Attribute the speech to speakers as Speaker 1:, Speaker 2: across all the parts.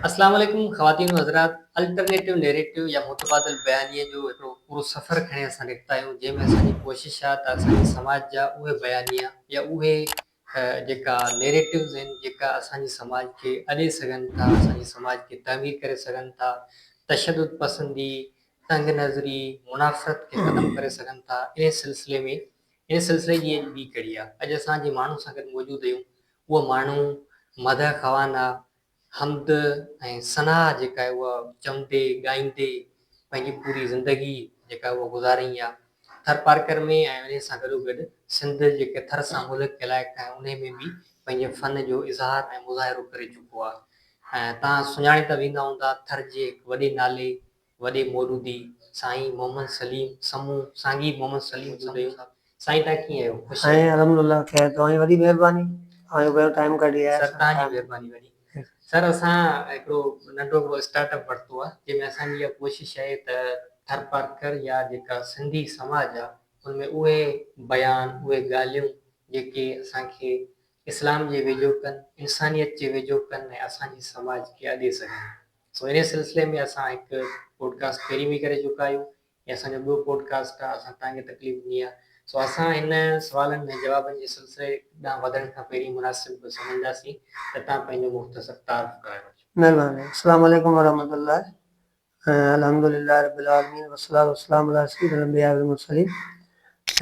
Speaker 1: السلام عليڪم خواتين و حضرات الٽرنيٽو نيريٽو يا متبادل بيانيي جو هڪڙو پورو سفر کڻي اسان نڪتا آهيون جنهن ۾ اسان جي ڪوشش آهي ته اسان جي سماج جا اهي بيانيا يا اهي ھي جيڪا نيريٽوز ھين جيڪا اسان جي سماج کي اڏي سگھن ٿا اسان جي سماج کي تعمير ڪري سگھن ٿا تشدد پسندي تنگ نظري منافرت کي ختم ڪري سگھن ٿا انھي سلسلي ۾ انھي سلسلي جي اڄ ٻي ڪڙي آ اڄ اسان جي ماڻھو سان گڏ موجود ھيون اھو ماڻھو مدح خوان آ حمد ۽ ثنا جيڪا آهي اها چوندي ڳائيندي پنهنجي پوري زندگي جيڪا آهي اها گذاريائين آ ٿر پارڪر ۾ ۽ انهي سان گڏو گڏ سنڌ جيڪي ٿر سان ملهڪ علائقا آهن انهي ۾ به پنهنجي فن جو اظهار ۽ مظاهرو ڪري چڪو آ ۽ توهان سڃاڻي ته ويندا هوندا ٿر جي هڪ وڏي نالي وڏي مولودي سائين محمد سليم سمون سانگي محمد سليم سمون صاحب سائين تهان ڪيئن آهيو خوش سائين آهيو الحمد لله خير
Speaker 2: توهان جي وڏي مهرباني اوهان جو پنهنجو ٽائيم ڪڍي آيا سر تهان جي مهرباني وڏي
Speaker 1: سر اسان هڪڙو ننڍو هڪڙو اسٽارٽ اپ ورتو آهي جنهن ۾ اسان جي اها ڪوشش آهي ته ٿرپارڪر يا جيڪا سنڌي سماج آهي ان ۾ اهي بيان اهي ڳالهيون جيڪي اسان کي اسلام جي ويجهو ڪن انسانيت جي ويجهو ڪن ۽ اسان جي سماج کي اڏي سگهن. سو انهيء سلسلي ۾ اسان هڪ پوڊڪاسٽ پهرين به ڪري چڪا آهيون هي اسان جو ٻيو پوڊڪاسٽ آهي اسان توهان کي تڪليف ڏني آهي سو اسان هن سوالن ۽ جوابن جي سلسلي ڏانهن وڌڻ کان پهرين مناسب سمجهنداسين ته توهان پنهنجو مختصر تعارف ڪرائي وٺجو. مهرباني. السلام
Speaker 2: عليڪم ورحمة الله الحمد لله رب العالمين والصلاة والسلام علي سيد الانبياء والمرسلين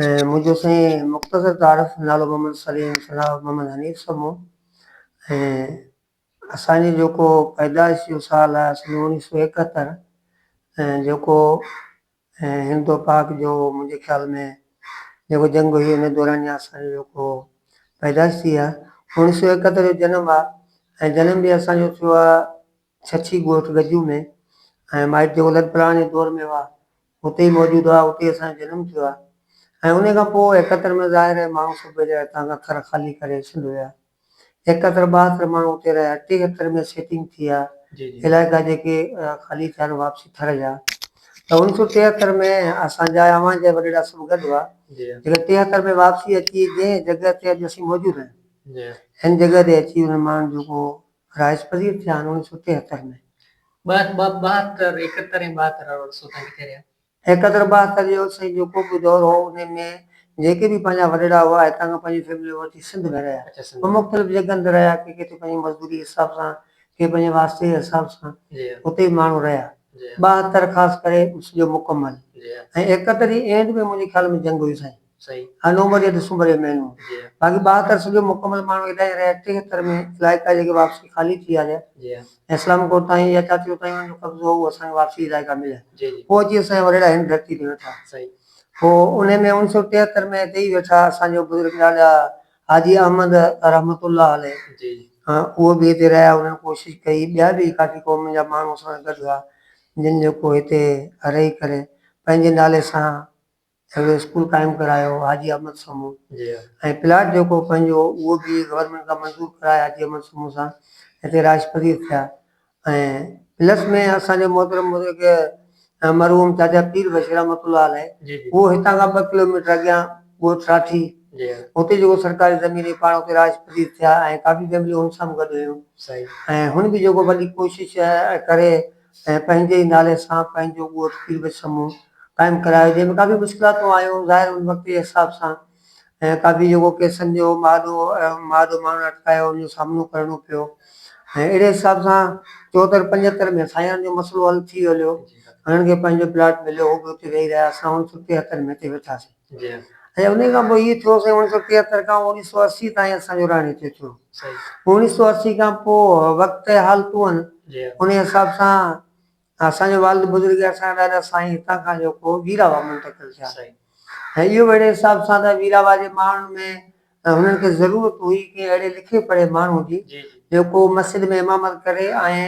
Speaker 2: منهنجو سائين مختصر تعارف نالو محمد سليم سنا محمد حنيف سمون ۽ اسان جي جيڪو پيدائش جو سال آهي سن اوڻيھ سؤ ايڪهتر ۽ جيڪو هندو پاڪ جو منهنجي خيال ۾ جيڪو جنگ هئي ان دوران يا اسان جو جيڪو پيدائش ٿي آهي اوڻيھ سؤ ايڪهتر جو جنم آهي ۽ جنم به اسان جو ٿيو آهي ڇڇي ڳوٺ گجو ۾ ۽ مائٽ جيڪو لڏ پلاڻ جي دور ۾ هئا اتي ئي موجود هئا اتي اسان جو جنم ٿيو آهي ۽ ان کان پوء ايڪهتر ۾ ظاهر آهي ماڻهو سڀ هتان کان ٿر خالي ڪري سنڌ ويا هڪ اکر ٻه اکر ماڻهو اتي رهيا ٽي اکر ۾ سيٽنگ ٿي ها علائقا جيڪي خالي ٿيا آهن واپسي ٿر جا ته ان سو ٽي اکر ۾ اسان جا اوهان جا وڏيرا سڀ گڏ هئا جيڪي ٽي اکر ۾ واپسي اچي جنهن جڳهه تي اڄ اسين موجود آهيون ان جڳهه تي اچي انهن ماڻهن جو ڪو رهائش پذير ٿيا آهن ان سو ٽي اکر ۾. ٻه اکر ٻه
Speaker 1: اکر ايڪهتر ۽ ٻهتر اهڙو ڏسو تنهن ڪٿي رهيا. حيدرآباد ته
Speaker 2: ڏيو سائين جو ڪو به دور هو انهي ۾ جيڪي به پنهنجا وڏڙا هئا هتان کان پنهنجي فيملي وٺي سنڌ ۾ رهيا ۽ مختلف جڳهن تي رهيا ڪي ڪٿي پنهنجي مزدوري جي حساب سان ڪي پنهنجي واسطي جي حساب سان اتي به ماڻهو رهيا ٻاهتر خاص ڪري سڄو مڪمل ۽ ايڪهتر جي اينڊ ۾ منهنجي خيال ۾ جنگ هئي سائين. سائين ها نومبر يا دسمبر جي مهينو باقي ٻاهه تر سڄو مڪمل ماڻهو هيڏانهن يا ريا ٽي تر ۾ علائقا جيڪي واپسي خالي ٿي آريا ۽ اسلام ڪوٽ تائين يا چاتيو تائين انهن جو قبضو هو اسان کي واپسي علائقا مليا پوء اچي اسان جا وڏيرا هن ڌرتي تي ويٺا پوء انهي ۾ اڻ سؤ ٽيهتر ۾ هتي ئي ويٺا اسان جو بزرگ لاڏا حاجي احمد رحمت الله عليه اهي به هتي رهيا انهن ڪوشش ڪئي ٻيا به ڪافي قومن جا ماڻهو اسان سان گڏ هئا جن جيڪو هتي رهي ڪري پنهنجي نالي سان سگهيو اسڪول قائم ڪرايو حاجي احمد سومو ۽ پلاٽ جيڪو پنهنجو هو اهو به گورنمينٽ کان منظور ڪرائي حاجي احمد سومو سان هتي رهائش پذير ٿيا ۽ پلس ۾ اسان جو محترم بزرگ مرحوم چاچا پير بشير رحمت الله عليه اهو هتان کان ٻه ڪلوميٽر اڳيان ڳوٺ ساٺي اتي جيڪو سرڪاري زمين هئي پاڻ اتي رهائش پذير ٿيا ۽ ڪافي فيمليون هن سان به گڏ هيون ۽ هن به جيڪو وڏي ڪوشش ڪري ۽ پنهنجي ئي نالي سان پنهنجو ڳوٺ پير بچ سمون قائم ڪرايو جنهن ۾ ڪافي مشڪلاتون آيون ظاهر ان وقت جي حساب سان ۽ ڪافي جيڪو ڪيسن جو مهاڏو مهاڏو ماڻهن اٽڪايو ان جو سامنو ڪرڻو پيو ۽ اهڙي حساب سان چوهتر پنجهتر ۾ سائينن جو مسئلو حل ٿي هليو انهن کي پنهنجو پلاٽ مليو هو به اتي ويهي رهيا اسان هن سٺي هٿن ۾ اتي ويٺاسين. ۽ انهيء کان پوء هيء ٿيو سائين اوڻيهه سؤ ٽيهتر کان اوڻيهه سؤ اسي تائين اسان جو راڻي ٿيو ٿيو اوڻيهه سؤ اسي کان پوء وقت ۽ حالتون انهيء حساب سان اسان جو والد بزرگ اسان جا ڏاڏا سائين هتان کان جو ڪو ويراوا منتقل ٿيا ۽ اهو به اهڙي حساب سان ته ويراوا جي ماڻهن ۾ هنن کي ضرورت هئي ڪنهن اهڙي لکي پڙهي ماڻهو جي جو ڪو مسجد ۾ امامت ڪري ۽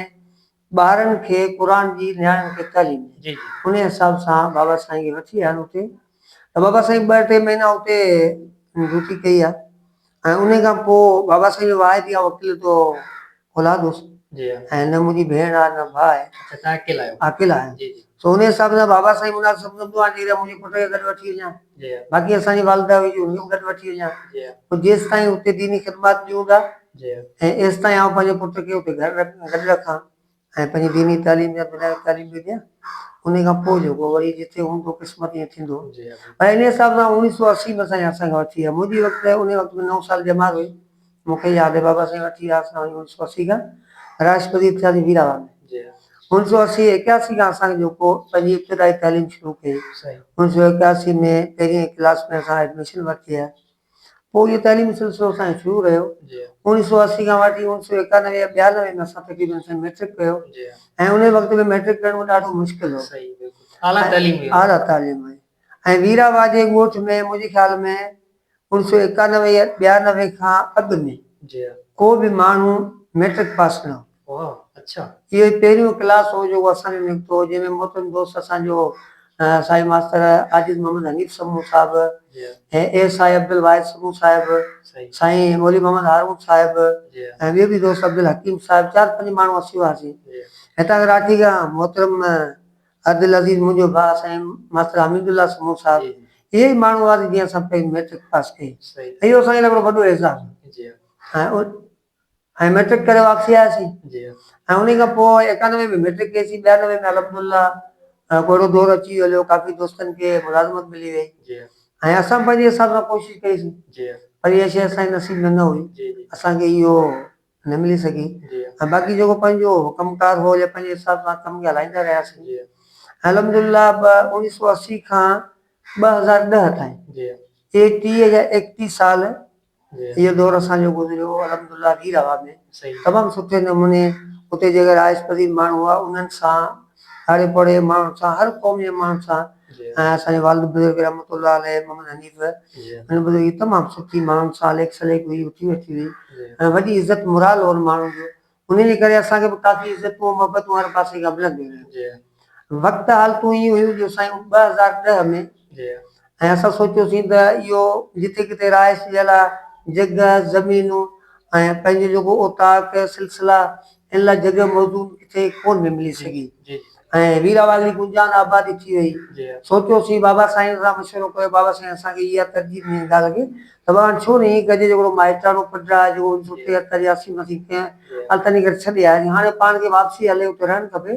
Speaker 2: ٻارن کي قرآن جي نياڻين کي تعليم ڏي جي جي. انهي حساب سان بابا سائين کي وٺي آيا آهن اتي ته بابا سائين ٻه ٽي مهينا اتي ڊيوٽي ڪئي آهي ۽ انهي کان پوء بابا سائين جو واحد اها وڪيل تو اولاد هوس جي ها. ۽ نه منهنجي ڀيڻ آهي نه ڀاء آهي اچا تنهن اڪيلا آهيو اڪيلا آهيان جي جي. سو ان حساب سان بابا سائين مناسب سمجهندو آهيان جيئن منهنجي پٽ کي گڏ وٺي وڃان، باقي اسان جي والده هئي جو هن کي به گڏ وٺي وڃان، پوء جيستائين اتي ديني خدمات ڏيون ٿا ۽ ايستائين آئون پنهنجي پٽ کي اتي گڏ رکان ۽ پنهنجي ديني تعليم يا دنياوي تعليم به ڏيان، انهي کان پوء جيڪو وري جتي هوندو قسمت ائين ٿيندو. پر ان حساب
Speaker 1: سان
Speaker 2: اوڻيهه سؤ اسي ۾ سائين اسان کي وٺي ويا، منهنجي وقت انهي وقت ۾ نو سال ڄمار هئي، مون کي ياد آهي بابا سائين وٺي ويا اسان کي انيس سؤ اسي کان راشٽرپتي ٿياسين مير آباد ۾ انيس سؤ
Speaker 1: اسي
Speaker 2: ايڪياسي کان اسان کي جيڪو پنهنجي ابتدائي تعليم شروع ڪئي انيس سؤ
Speaker 1: ايڪياسي ۾
Speaker 2: پهرين ڪلاس ۾ اسان ايڊميشن ورتي آهي پوء اهو تعليمي سلسلو اسان جو شروع رهيو انيس سؤ اسي
Speaker 1: کان وٺي
Speaker 2: انيس سؤ ايڪانوي يا ٻيانوي ۾ اسان تقريبن سائين مئٽرڪ ڪيو ۽ انهي
Speaker 1: وقت ۾
Speaker 2: مئٽرڪ ڪرڻ مون ڏاڍو مشڪل هو
Speaker 1: اعليٰ تعليم هئي
Speaker 2: ۽ ويرا واجهي ڳوٺ ۾ منهنجي خيال ۾ اوڻ سؤ ايڪانوي يا ٻيانوي کان اڳ ۾ ڪو به
Speaker 1: ماڻهو
Speaker 2: مئٽرڪ پاس نه هو.
Speaker 1: اهو ئي پهريون
Speaker 2: ڪلاس هو جيڪو اسان ۾ نڪتو هو، جنهن ۾ محترم دوست اسان جو سائين ماستر عاجز محمد حنيف سمون صاحب، A
Speaker 1: S I
Speaker 2: Abdul Wahid Samoon صاحب، سائين
Speaker 1: مولوي محمد
Speaker 2: هارون صاحب ۽ ٻيو به
Speaker 1: دوست
Speaker 2: عبدالحڪيم صاحب چار پنج ماڻهو اسين هئاسين. هتان کان
Speaker 1: راکي کان
Speaker 2: محترم عبدالعزيز منهنجو ڀاء سائين ماستر حميد الله سمون صاحب اهي ئي ماڻهو هئا
Speaker 1: جن
Speaker 2: سان پهرين مئٽرڪ پاس ڪئي اهو اسان جي لاء هڪڙو
Speaker 1: وڏو
Speaker 2: اعزاز هو ۽ مئٽرڪ ڪري واپسي آياسين ۽ انهي
Speaker 1: کان پوء
Speaker 2: ايڪانوي ۾ مئٽرڪ ڪئيسين ٻيانوي ۾ الحمدالله ڪو اهڙو دور اچي ويو هليو ڪافي دوستن کي ملازمت ملي وئي ۽ اسان
Speaker 1: پنهنجي
Speaker 2: حساب سان ڪوشش ڪئيسين پر اها شيء
Speaker 1: اسان جي
Speaker 2: نصيب ۾ نه هئي اسان کي اهو نه ملي سگهي ۽ باقي جيڪو
Speaker 1: پنهنجو
Speaker 2: ڪم ڪار هو يا پنهنجي حساب سان ڪم هلائيندا رهياسين ۽
Speaker 1: الحمدلله
Speaker 2: به اڻيهه سؤ اسي کان ٻه هزار ڏهه تائين اهي
Speaker 1: ٽيهه يا
Speaker 2: ايڪٽيهه سال اهو
Speaker 1: دور اسان جو
Speaker 2: گذريو الحمدلله وير آباد ۾ تمام سٺي
Speaker 1: نموني
Speaker 2: اتي جيڪي رهائش پذير ماڻهو هئا انهن سان ھاري پوڙھي جي ماڻھن سان ھر قوم جي ماڻھن سان ۽ اسان جي والد
Speaker 1: بزرگ
Speaker 2: رحمت الله عليه محمد حنيف ھن بزرگ جي
Speaker 1: تمام
Speaker 2: سٺي ماڻھن سان ليک سليڪ ھئي اٺي ويٺي ھئي ۽ وڏي عزت
Speaker 1: مرال
Speaker 2: ھو ان ماڻھن جو انھي جي ڪري اسان کي به ڪافي عزتون ۽ محبتون ھر پاسي کان ملنديون رھيون وقت
Speaker 1: حالتون اھي
Speaker 2: ھيون جو سائين ٻه ھزار ڏهه ۾ ۽
Speaker 1: اسان
Speaker 2: سوچيوسين ته اھو جتي ڪٿي رھائش جي لاء جڳھه زمينون ۽ پنھنجو جيڪو اوطاق سلسلا ان لاء جڳهه موزون ڪٿي ڪون به ملي سگهي ۽
Speaker 1: ويراوالي
Speaker 2: گونجان آبادي ٿي وئي. سوچيوسين
Speaker 1: بابا
Speaker 2: سائين سان مشورو ڪيو بابا سائين اسان کي اها ترجيح ڏيڻي نٿا لڳي ته بابا ڇو نه هي ڪجي جهڙو مائٽاڻو پٽ آهي جيڪو اڻ سؤ ٽيهتر يا اسي مسي ڪنهن التني ڪري ڇڏي آياسين هاڻي پاڻ کي واپسي هلي اتي رهڻ کپي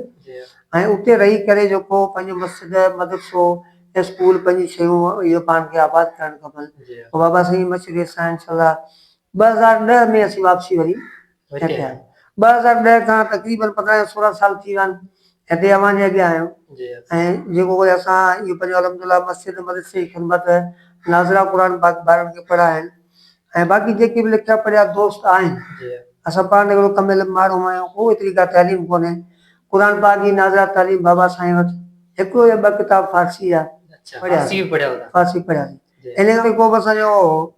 Speaker 2: ۽ اتي رهي ڪري جيڪو پنهنجو مسجد مدرسو اسڪول پنهنجي شيون اهي پاڻ کي آباد ڪرڻ کپن پوء بابا سائين جي مشوري سان انشاء الله ٻه هزار ڏهه ۾ اسين واپسي وري هتي آهيان. ٻه هزار ڏهه کان تقريبن پندرهن يا سورهن سال ٿي ويا آهن هتي اوهان جي اڳيان آهيان ۽ جيڪو ڪجهه اسان اهو پنهنجو الحمدلله مسجد مدرسي جي خدمت ناظره قرآن پاڪ ٻارن کي پڙهائڻ ۽ باقي جيڪي به لکيا پڙهيا دوست آهن اسان پاڻ هڪڙو ڪم علم ماڻهو آهيون ڪو ايتري ڪا تعليم ڪونهي قرآن پاڪ جي ناظره تعليم بابا سائين وٽ هڪڙو يا ٻه ڪتاب فارسي جا پڙهياسين فارسي پڙهياسين ان ڪري ڪو به اسان جو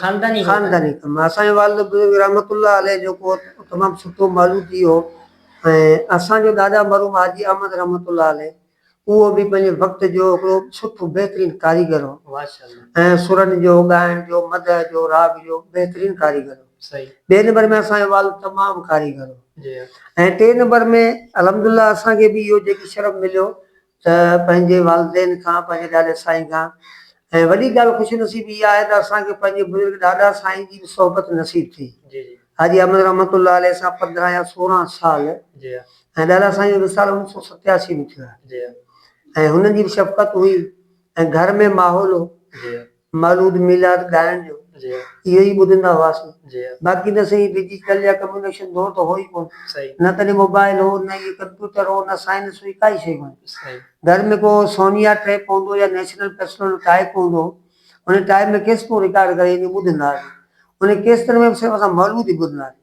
Speaker 2: خانداني ڪم اسان جو والد بزرگ رحمت الله عليه جو ڪو تمام سٺو مالوتي هو ۽ اسان جو ڏاڏا مرحوم حاجي احمد رحمت الله عليه اهو به پنهنجي وقت جو هڪڙو سٺو بهترين ڪاريگر هو ۽ سرن جو ڳائڻ جو مدح جو راڳ جو بهترين ڪاريگر هو ٻئي نمبر ۾ اسان جو والد تمام ڪاريگر هو ۽ ٽي نمبر ۾ الحمدالله اسان کي به اهو جيڪي شرف مليو ته پنهنجي والدين کان، پنهنجي ڏاڏي سائين کان ۽ وڏي ڳالهه خوش نصيبي اها آهي ته اسان کي پنهنجي بزرگ ڏاڏا سائين جي به صحبت نصيب ٿي. حاجي احمد رحمت الله عليه سان پندرهن يا سورهن سال ۽ ڏاڏا سائين جو وصال اوڻيھ سؤ ستياسي ۾ ٿيو آهي ۽ هنن جي به شفقت هئي ۽ گهر ۾ ماحول هو. مولود ميلاد ڳائڻ جو اهو ئي ٻڌندا هئاسون. باقي نه سهي ڊجيٽل يا ڪميونيڪشن دور ته هو ئي ڪونه. نه تڏهن موبائل هو، نه ئي ڪمپيوٽر هو، نه سائنس هئي، ڪائي شيء ڪونه. گهر ۾ ڪو سونيا ٽيپ هوندو يا نيشنل پرسنل ٽائيپ هوندو هو. ان ٽائيپ ۾ ڪيسٽون رڪارڊ ڪري ائين ٻڌندا هئاسين. انهن ڪيسٽن ۾ به صرف اسان مولود ئي ٻڌندا هئاسين.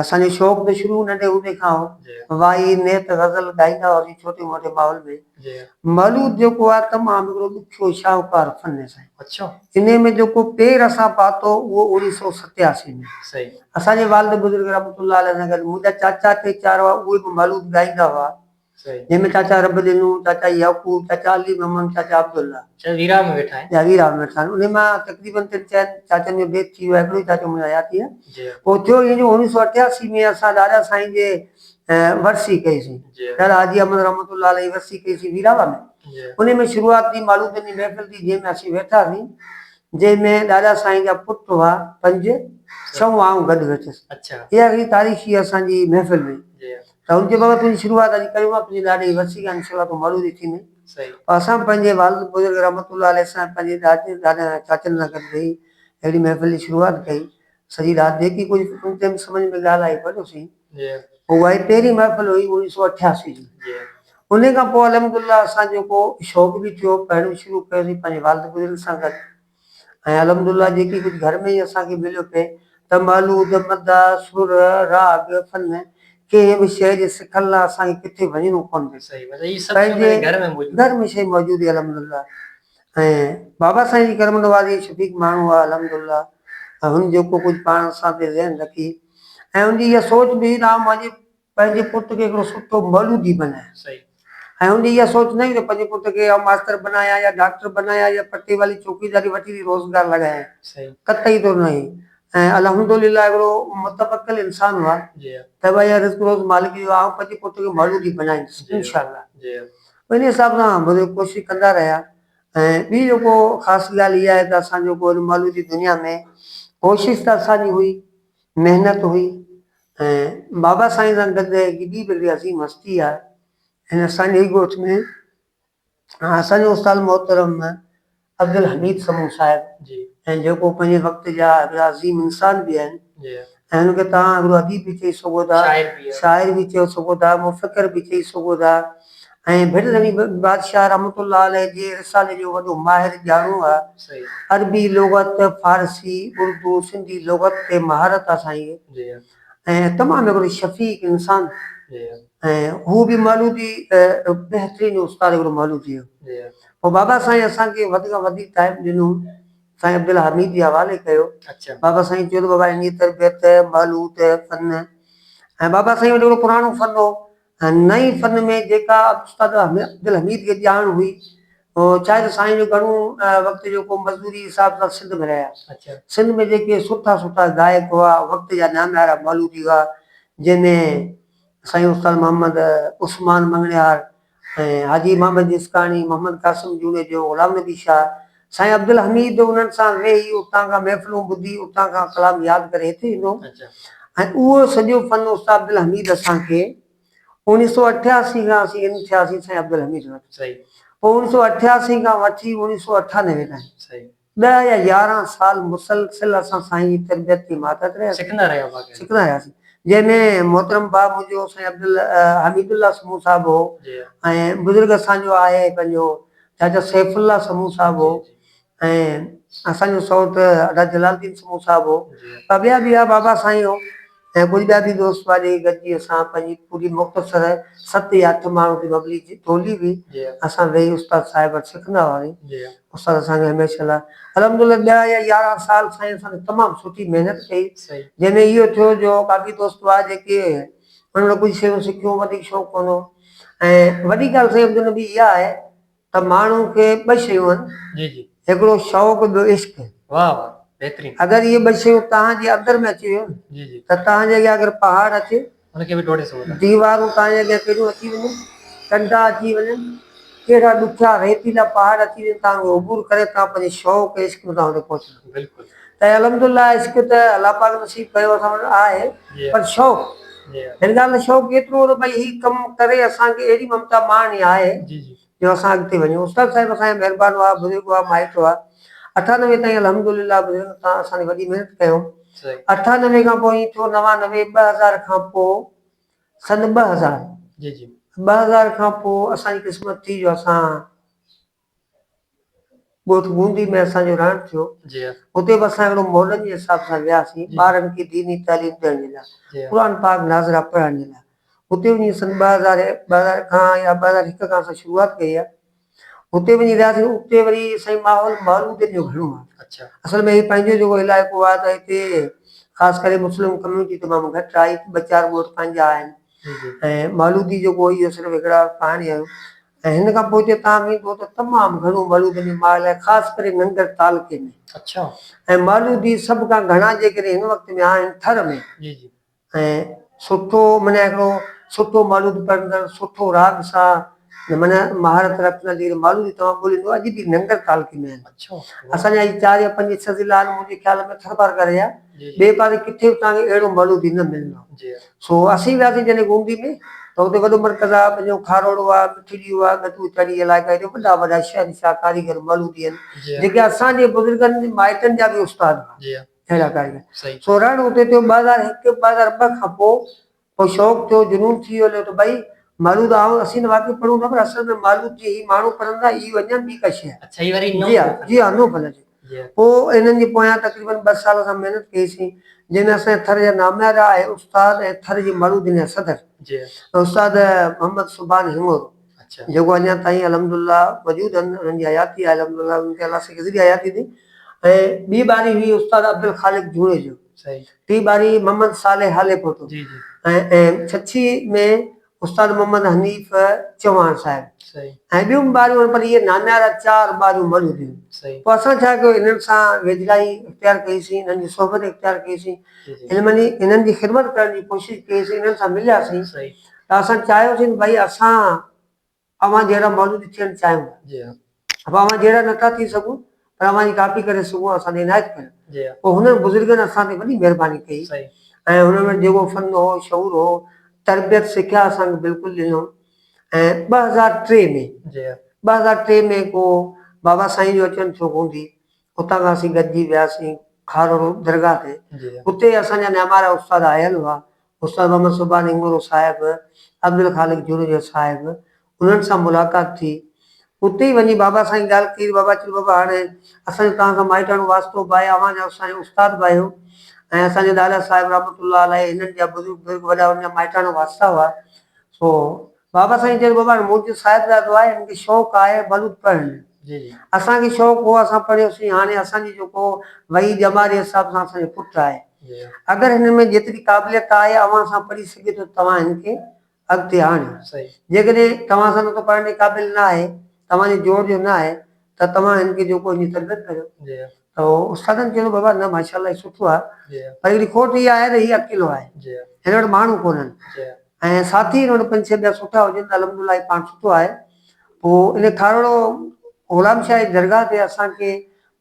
Speaker 2: اسان جو شوق ته شروع ننڍي هوندي کان هو. وائي، نيت،
Speaker 1: غزل
Speaker 2: ڳائيندا هئاسين ڇوٽي موٽي ماحول ۾. مولود
Speaker 1: جيڪو
Speaker 2: آهي تمام هڪڙو ڏکيو شاهوڪار فن آهي سائين. انهي ۾
Speaker 1: جيڪو
Speaker 2: پير اسان پاتو اهو اوڻيهه سؤ ستياسي ۾ اسان جي
Speaker 1: والد بزرگ
Speaker 2: رحمت الله عليه سان گڏ منهنجا چاچا ٽي چار هئا اهي به مولود ڳائيندا هئا. جنهن ۾
Speaker 1: چاچا رب
Speaker 2: ڏنو، چاچا يعقوب، چاچا علي محمد، چاچا عبدالله. جا ويراه ۾ ويٺا
Speaker 1: آهن. جا ويراه ۾ ويٺا آهن. انهيء مان
Speaker 2: تقريبن ٽن چئن چاچن جو بيت ٿي ويو آهي. هڪڙو ئي چاچو منهنجو حياتيء پوء ٿيو. ائين جو
Speaker 1: اوڻيهه
Speaker 2: سؤ اٺياسي ۾ اسان ڏاڏا سائين جي ورسي ڪئي سين. ڏاڏا حاجي احمد
Speaker 1: رحمة
Speaker 2: الله عليه ورسي ڪئي سين ويراهه ۾. انهيء ۾ شروعات
Speaker 1: ٿي
Speaker 2: مالوتن جي محفل ٿي جنهن ۾ اسين ويٺا سين. جنهن ۾ ڏاڏا سائين جا پٽ هئا پنج، ڇهون آئون گڏ ويٺس. اها هئي
Speaker 1: تاريخي
Speaker 2: اسان جي محفل ۾. ته هن چيو بابا
Speaker 1: تنهنجي
Speaker 2: شروعات اڄ ڪيون ها تنهنجي ڏاڏي جي ورسي کان انشاء الله تون مولوي ٿيندين پر اسان
Speaker 1: پنهنجي والد
Speaker 2: بزرگ رحمت الله عليه سان پنهنجي ڏاڏن ۽ چاچن سان گڏ ويهي اهڙي محفل جي شروعات ڪئي سڄي رات جيڪي ڪجهه ان ٽيم سمجهه ۾ ڳالهه آئي پڙهيوسين پوء اها
Speaker 1: ئي پهرين
Speaker 2: محفل هئي اوڻيهه سؤ اٺياسي جي انهي
Speaker 1: کان پوء
Speaker 2: الحمدلله اسان جو ڪو شوق به ٿيو پڙهڻ شروع ڪيوسين پنهنجي والد بزرگ سان گڏ ۽ الحمدالله جيڪي ڪجهه گهر ۾ ئي اسان کي مليو پئي ته محل عود، مداح، سر، راڳ، فن، ڪنهن به شيء جي سکڻ لاء اسان کي ڪٿي وڃڻو ڪونه پئي. پنهنجي
Speaker 1: گهر
Speaker 2: ۾
Speaker 1: شيء موجود هئي
Speaker 2: الحمدالله ۽ بابا سائين جي ڪرم نوازي ۽ شفيق ماڻهو هئا الحمدالله ۽ هن جيڪو ڪجهه پاڻ سان پئي ذهن رکي ۽ هن جي اها سوچ به هئي ته آئون مانجي پنهنجي پٽ کي هڪڙو سٺو مولودي بنايان ۽
Speaker 1: ان جي اها
Speaker 2: سوچ نه هئي ته پنهنجي پٽ کي آئون ماستر بنايان يا ڊاڪٽر بنايان يا پٽي والي چوڪيداري وٺي ٿي روزگار لڳايان. قطعي طور
Speaker 1: نه هئي ۽
Speaker 2: الحمد لله هڪڙو متوڪل انسان هئا ته ڀائي اها
Speaker 1: رزق روز
Speaker 2: مالڪ جو آهي آئون پنهنجي پٽ کي مولودي بنائيندس انشاء الله ان
Speaker 1: حساب
Speaker 2: سان مطلب ڪوشش ڪندا رهيا ۽ ٻي جيڪو خاص ڳالهه اها آهي ته اسان جيڪو ان مولودي دنيا ۾ ڪوشش ته اسان جي هئي محنت هئي ۽ بابا سائين سان گڏ هڪ ٻي بلي عظيم هستي آهي ۽ اسان جي ئي ڳوٺ ۾ اسان جو استاد محترم عبدالحميد سمون صاحب جي ۽ جيڪو
Speaker 1: پنهنجي وقت
Speaker 2: جا هڪڙا عظيم انسان به آهن جي ۽ هن کي
Speaker 1: توهان هڪڙو
Speaker 2: اديب به چئي سگهو ٿا شاعر به شاعر به چئي سگهو ٿا مفڪر به چئي سگهو ٿا ائين ڀٽ نوي بادشاهه رحمت الله عليه جي رسالي جو وڏو ماهر ڄاڻو هئا. عربي
Speaker 1: لغت،
Speaker 2: فارسي، اردو، سنڌي لغت تي مهارت هئا سائين ۽
Speaker 1: تمام
Speaker 2: هڪڙو شفيق انسان
Speaker 1: ۽ هو
Speaker 2: به مولودي بهترين استاد هڪڙو مولودي هو. پوء بابا
Speaker 1: سائين
Speaker 2: اسان کي وڌ کان وڌيڪ ٽائيم ڏنو سائين عبدالحميد جي حوالي ڪيو. بابا سائين
Speaker 1: چيو ته بابا
Speaker 2: انهيء تربيت، مولود، فن ۽ بابا سائين وٽ هڪڙو پراڻو فن هو هن نئين فن ۾ جيڪا استاد عبدالحميد کي ڄاڻ هئي، ڇاهي ته سائين جو گهڻو وقت جو ڪو مزدوري حساب سان سنڌ ۾ رهيا. سنڌ ۾ جيڪي
Speaker 1: سٺا
Speaker 2: سٺا گائڪ هئا، وقت جا ناميارا مولودي هئا، جنهن ۾ سائين استاد محمد عثمان مڱڻهار ۽ حاجي محمد جسڪاڻي، محمد قاسم جوڻيجو، غلام نبي شاهه، سائين عبدالحميد انهن سان ويهي اتان کان محفلون ٻڌي اتان کان ڪلام ياد ڪري هتي ايندو هو ۽ اهو سڄو فن استاد عبدالحميد اسان کي اوڻيهه سؤ اٺياسي کان اسين ان ٿياسين سائين عبدالحميد وٽ پوء اوڻيهه سؤ
Speaker 1: اٺياسي
Speaker 2: کان وٺي اوڻيهه سؤ اٺانوي تائين ڏهه يا
Speaker 1: يارهن
Speaker 2: سال مسلسل اسان سائين جي تربيت جي ماتحت رهياسين سکندا رهياسين جنهن ۾ محترم باب منهنجو سائين عبدالحميد الله سمون صاحب هو ۽ بزرگ اسان جو آهي پنهنجو ڇا جو سيف الله سمون صاحب هو ۽ اسان جو سئوٽ ادا جلال الدين سمون صاحب هو ٻه ٻيا به هئا بابا سائين هو ۽ ڪجهه ٻيا به دوست هئا جيڪي گڏجي اسان پنهنجي پوري مختصر ست يا اٺ ماڻهن جي مبلي جي ٽولي هئي اسان ويهي استاد صاحب وٽ سکندا هئاسين استاد اسان کي هميشه لاء الحمدلله ڏهه يا يارهن سال سائين اسان سان تمام سٺي محنت ڪئي جنهن ۾ اهو ٿيو جو ڪافي دوست هئا جيڪي هن نه ڪجهه شيون سکيون، وڌيڪ شوق ڪونه هو ۽ وڏي ڳالهه سائين عبدالنبي اها آهي ته ماڻهو کي ٻه شيون آهن، هڪڙو شوق ٻيو عشق.
Speaker 1: اگر اهي ٻه شيون
Speaker 2: توهان جي اندر ۾ اچي ويون ته توهان جي اڳيان اگر پهاڙ اچي،
Speaker 1: ديوارون توهان جي اڳيان
Speaker 2: ڪهڙيون اچي وڃن، ڪنڊا اچي وڃن، ڪهڙا ڏکيا ريتيلا پهاڙ اچي وڃن تان اهي عبور ڪري تان پنهنجي شوق ۽ عشق مٿان هتي پهچندا بلڪل ته الحمد
Speaker 1: الله
Speaker 2: عشق ته الله پاڪ نصيب ڪيو اسان وٽ آهي پر شوق هن ڳالهه جو شوق ايترو هو ته ڀئي هي ڪم ڪري اسان کي اهڙي ممتا ماڻڻي آهي جو اسان اڳتي وڃون استاد صاحب اسان جا مهربان هئا بزرگ هئا مائٽ هئا اٺانوي تائين الحمد لله بزرگن سان اسان جي وڏي محنت ڪيون اٺانوي کان پوء ائين ٿيو نوانوي ٻه هزار کان پوء سن ٻه هزار جي جي ٻه هزار کان پوء اسان جي قسمت ٿي جو اسان ڳوٺ گوندي ۾ اسان جو رهڻ ٿيو جي هتي به
Speaker 1: اسان اهڙو
Speaker 2: مولن جي حساب سان وياسين ٻارن کي ديني تعليم ڏيڻ جي لاء قرآن پاڪ ناظرا پڙهڻ جي لاء هتي وڃي سن ٻه هزار ٻه هزار کان يا ٻه هزار هڪ کان اسان شروعات ڪئي آهي اتي وڃي رهياسين اتي وري سائين ماحول مارودين جو گهڻو آهي اڇا اصل ۾ هي پنهنجو
Speaker 1: جيڪو
Speaker 2: علائقو آهي ته هتي خاص ڪري مسلم ڪميونٽي تمام گهٽ آهي ٻه چار ڳوٺ پنهنجا آهن جي جي ۽ مولودي جيڪو اهو صرف هڪڙا پهاڻي آهيون ۽ هن کان پوء هتي تام ايندو ته تمام گهڻو مولودين جو ماحول آهي خاص ڪري ننگر تعلقي ۾ اڇا ۽
Speaker 1: مولودي
Speaker 2: سڀ کان گهڻا جيڪڏهن هن وقت ۾ آهن ٿر ۾ جي جي ۽ سٺو معنيٰ هڪڙو سٺو مالود پرندڙ سٺو راڳ سان معنيٰ مهارت رکندڙ جيڪڏهن مالود توهان ڳوليو ته اڄ به ننگر تعلقي ۾ آهن اسان جا هي
Speaker 1: چار يا
Speaker 2: پنج ڇهه ضلعا آهن منهنجي خيال ۾ ٿرپارڪر ۽ ٻئي پاسي ڪٿي به توهان کي اهڙو مالودي نه ملندو سو اسين وياسين جڏهن گومتي ۾ ته اتي وڏو مرڪز آهي پنهنجو کاروڙو آهي مٺي ڏيو آهي ڳتو چڙي علائقا هيڏي وڏا وڏا شهنشاهه ڪاريگر مالودي آهن جيڪي اسان جي بزرگن مائٽن جا به استاد هئا. ٿيل اگهاڙي ۾، سورهڻ اتي ٿيو ٻه هزار هڪ ٻه هزار ٻه کان پوء ڪو شوق ٿيو، جنون ٿي ويو جو ڀئي مالود آئون اسين ته واقعي پڙهون ٿا پر اصل ۾ مالود جي هي ماڻهو پڙهن ٿا اي وڃن ٻي ڪا شيء جي ها جي ها نو ڦل جي پوء انهن جي پويان تقريبن ٻه سال اسان محنت ڪئي سين جنهن ۾ اسان جا ٿر جا ناميارا ۽ استاد ۽ ٿر جي مالودين جا صدر استاد محمد سبحان هڱورو جيڪو اڃا تائين الحمد الله موجود آهن انهن جي حياتي آهي الحمد الله انهن کي الله سائين ڪيتري حياتي ڏي ۽ ٻي ٻاري هئي استاد عبدالخالق جوڻيجو ٽي ٻاري محمد صالح هالي پوٽو ۽ ڇڇي ۾ استاد محمد حنيف چوهاڻ صاحب ۽ ٻيون به ٻاريون آهن پر اهي ناميارا چار ٻاريون موجود هيون پوء اسان ڇا ڪيو انهن سان ويجهڙائي اختيار ڪئي سين انهن جي صحبت اختيار ڪئي سين علمني انهن جي خدمت ڪرڻ جي ڪوشش ڪئي سين انهن سان مليا سين ته اسان چاهيوسين ته ڀائي اسان اوهان جهڙا ماڻهو به ٿيڻ چاهيون ٿا. جي ها. اهو اوهان جهڙا نه ٿا ٿي سگهون پر اوهان جي ڪاپي ڪري سگهون ها اسان تي عنايت ڪريو. جي ها. پوء هنن بزرگن اسان تي وڏي مهرباني ڪئي صحيح. ۽ هنن وٽ جيڪو فن هو، شعور هو، تربيت سکيا اسان کي بلڪل ڏنو ۽ ٻه هزار ٽي ۾ جي ها. ٻه هزار ٽي ۾ ڪو بابا سائين جو اچڻ ٿيو گوندي اتان کان اسين گڏجي وياسين کارو درگاهه تي جي ها. اتي اسان جا نيامارا استاد آيل هئا استاد محمد صوڀا نينگورو صاحب، عبدالخالق جوڻيجو صاحب، انهن سان ملاقات ٿي. اتي ئي وڃي بابا سائين ڳالهه ڪئي ته بابا چيو بابا هاڻ اسان جو توهان سان مائٽاڻو واسطو به آهي، اوهان جا اسان جا استاد به آهيو ۽ اسان جي ڏاڏا صاحب رحمة الله عليه هنن جا بزرگ بزرگ وڏا هن جا مائٽاڻا واسطا هئا سو بابا سائين چيو ته بابا هاڻي منهنجو صاحبزادو آهي هن کي شوق آهي بلوچ پڙهڻ جو اسان کي شوق هو اسان پڙهيوسين هاڻي اسان جي جيڪو وهي ڄمار جي حساب سان اسان جو پٽ آهي اگر هن ۾ جيتري قابليت آهي اوهان سان پڙهي سگهي ٿو ته توهان هن کي اڳتي آڻيو جيڪڏهن توهان سان نٿو پڙهڻ جي قابل نه آهي توهان جي جوڙ جو نه آهي ته توهان هن کي جيڪو هن جي تربيت ڪريو. ته استادن چيو ته بابا نه ماشاء الله هي سٺو آهي پر هڪڙي کوٽ اها آهي ته هي اڪيلو آهي هن وٽ ماڻهو ڪونهن ۽ ساٿي هن وٽ پنج ڇهه ٻيا سٺا هجن ته الحمد لله هي پاڻ سٺو آهي پوء ان کارڙو غلام شاهه جي درگاهه تي اسان کي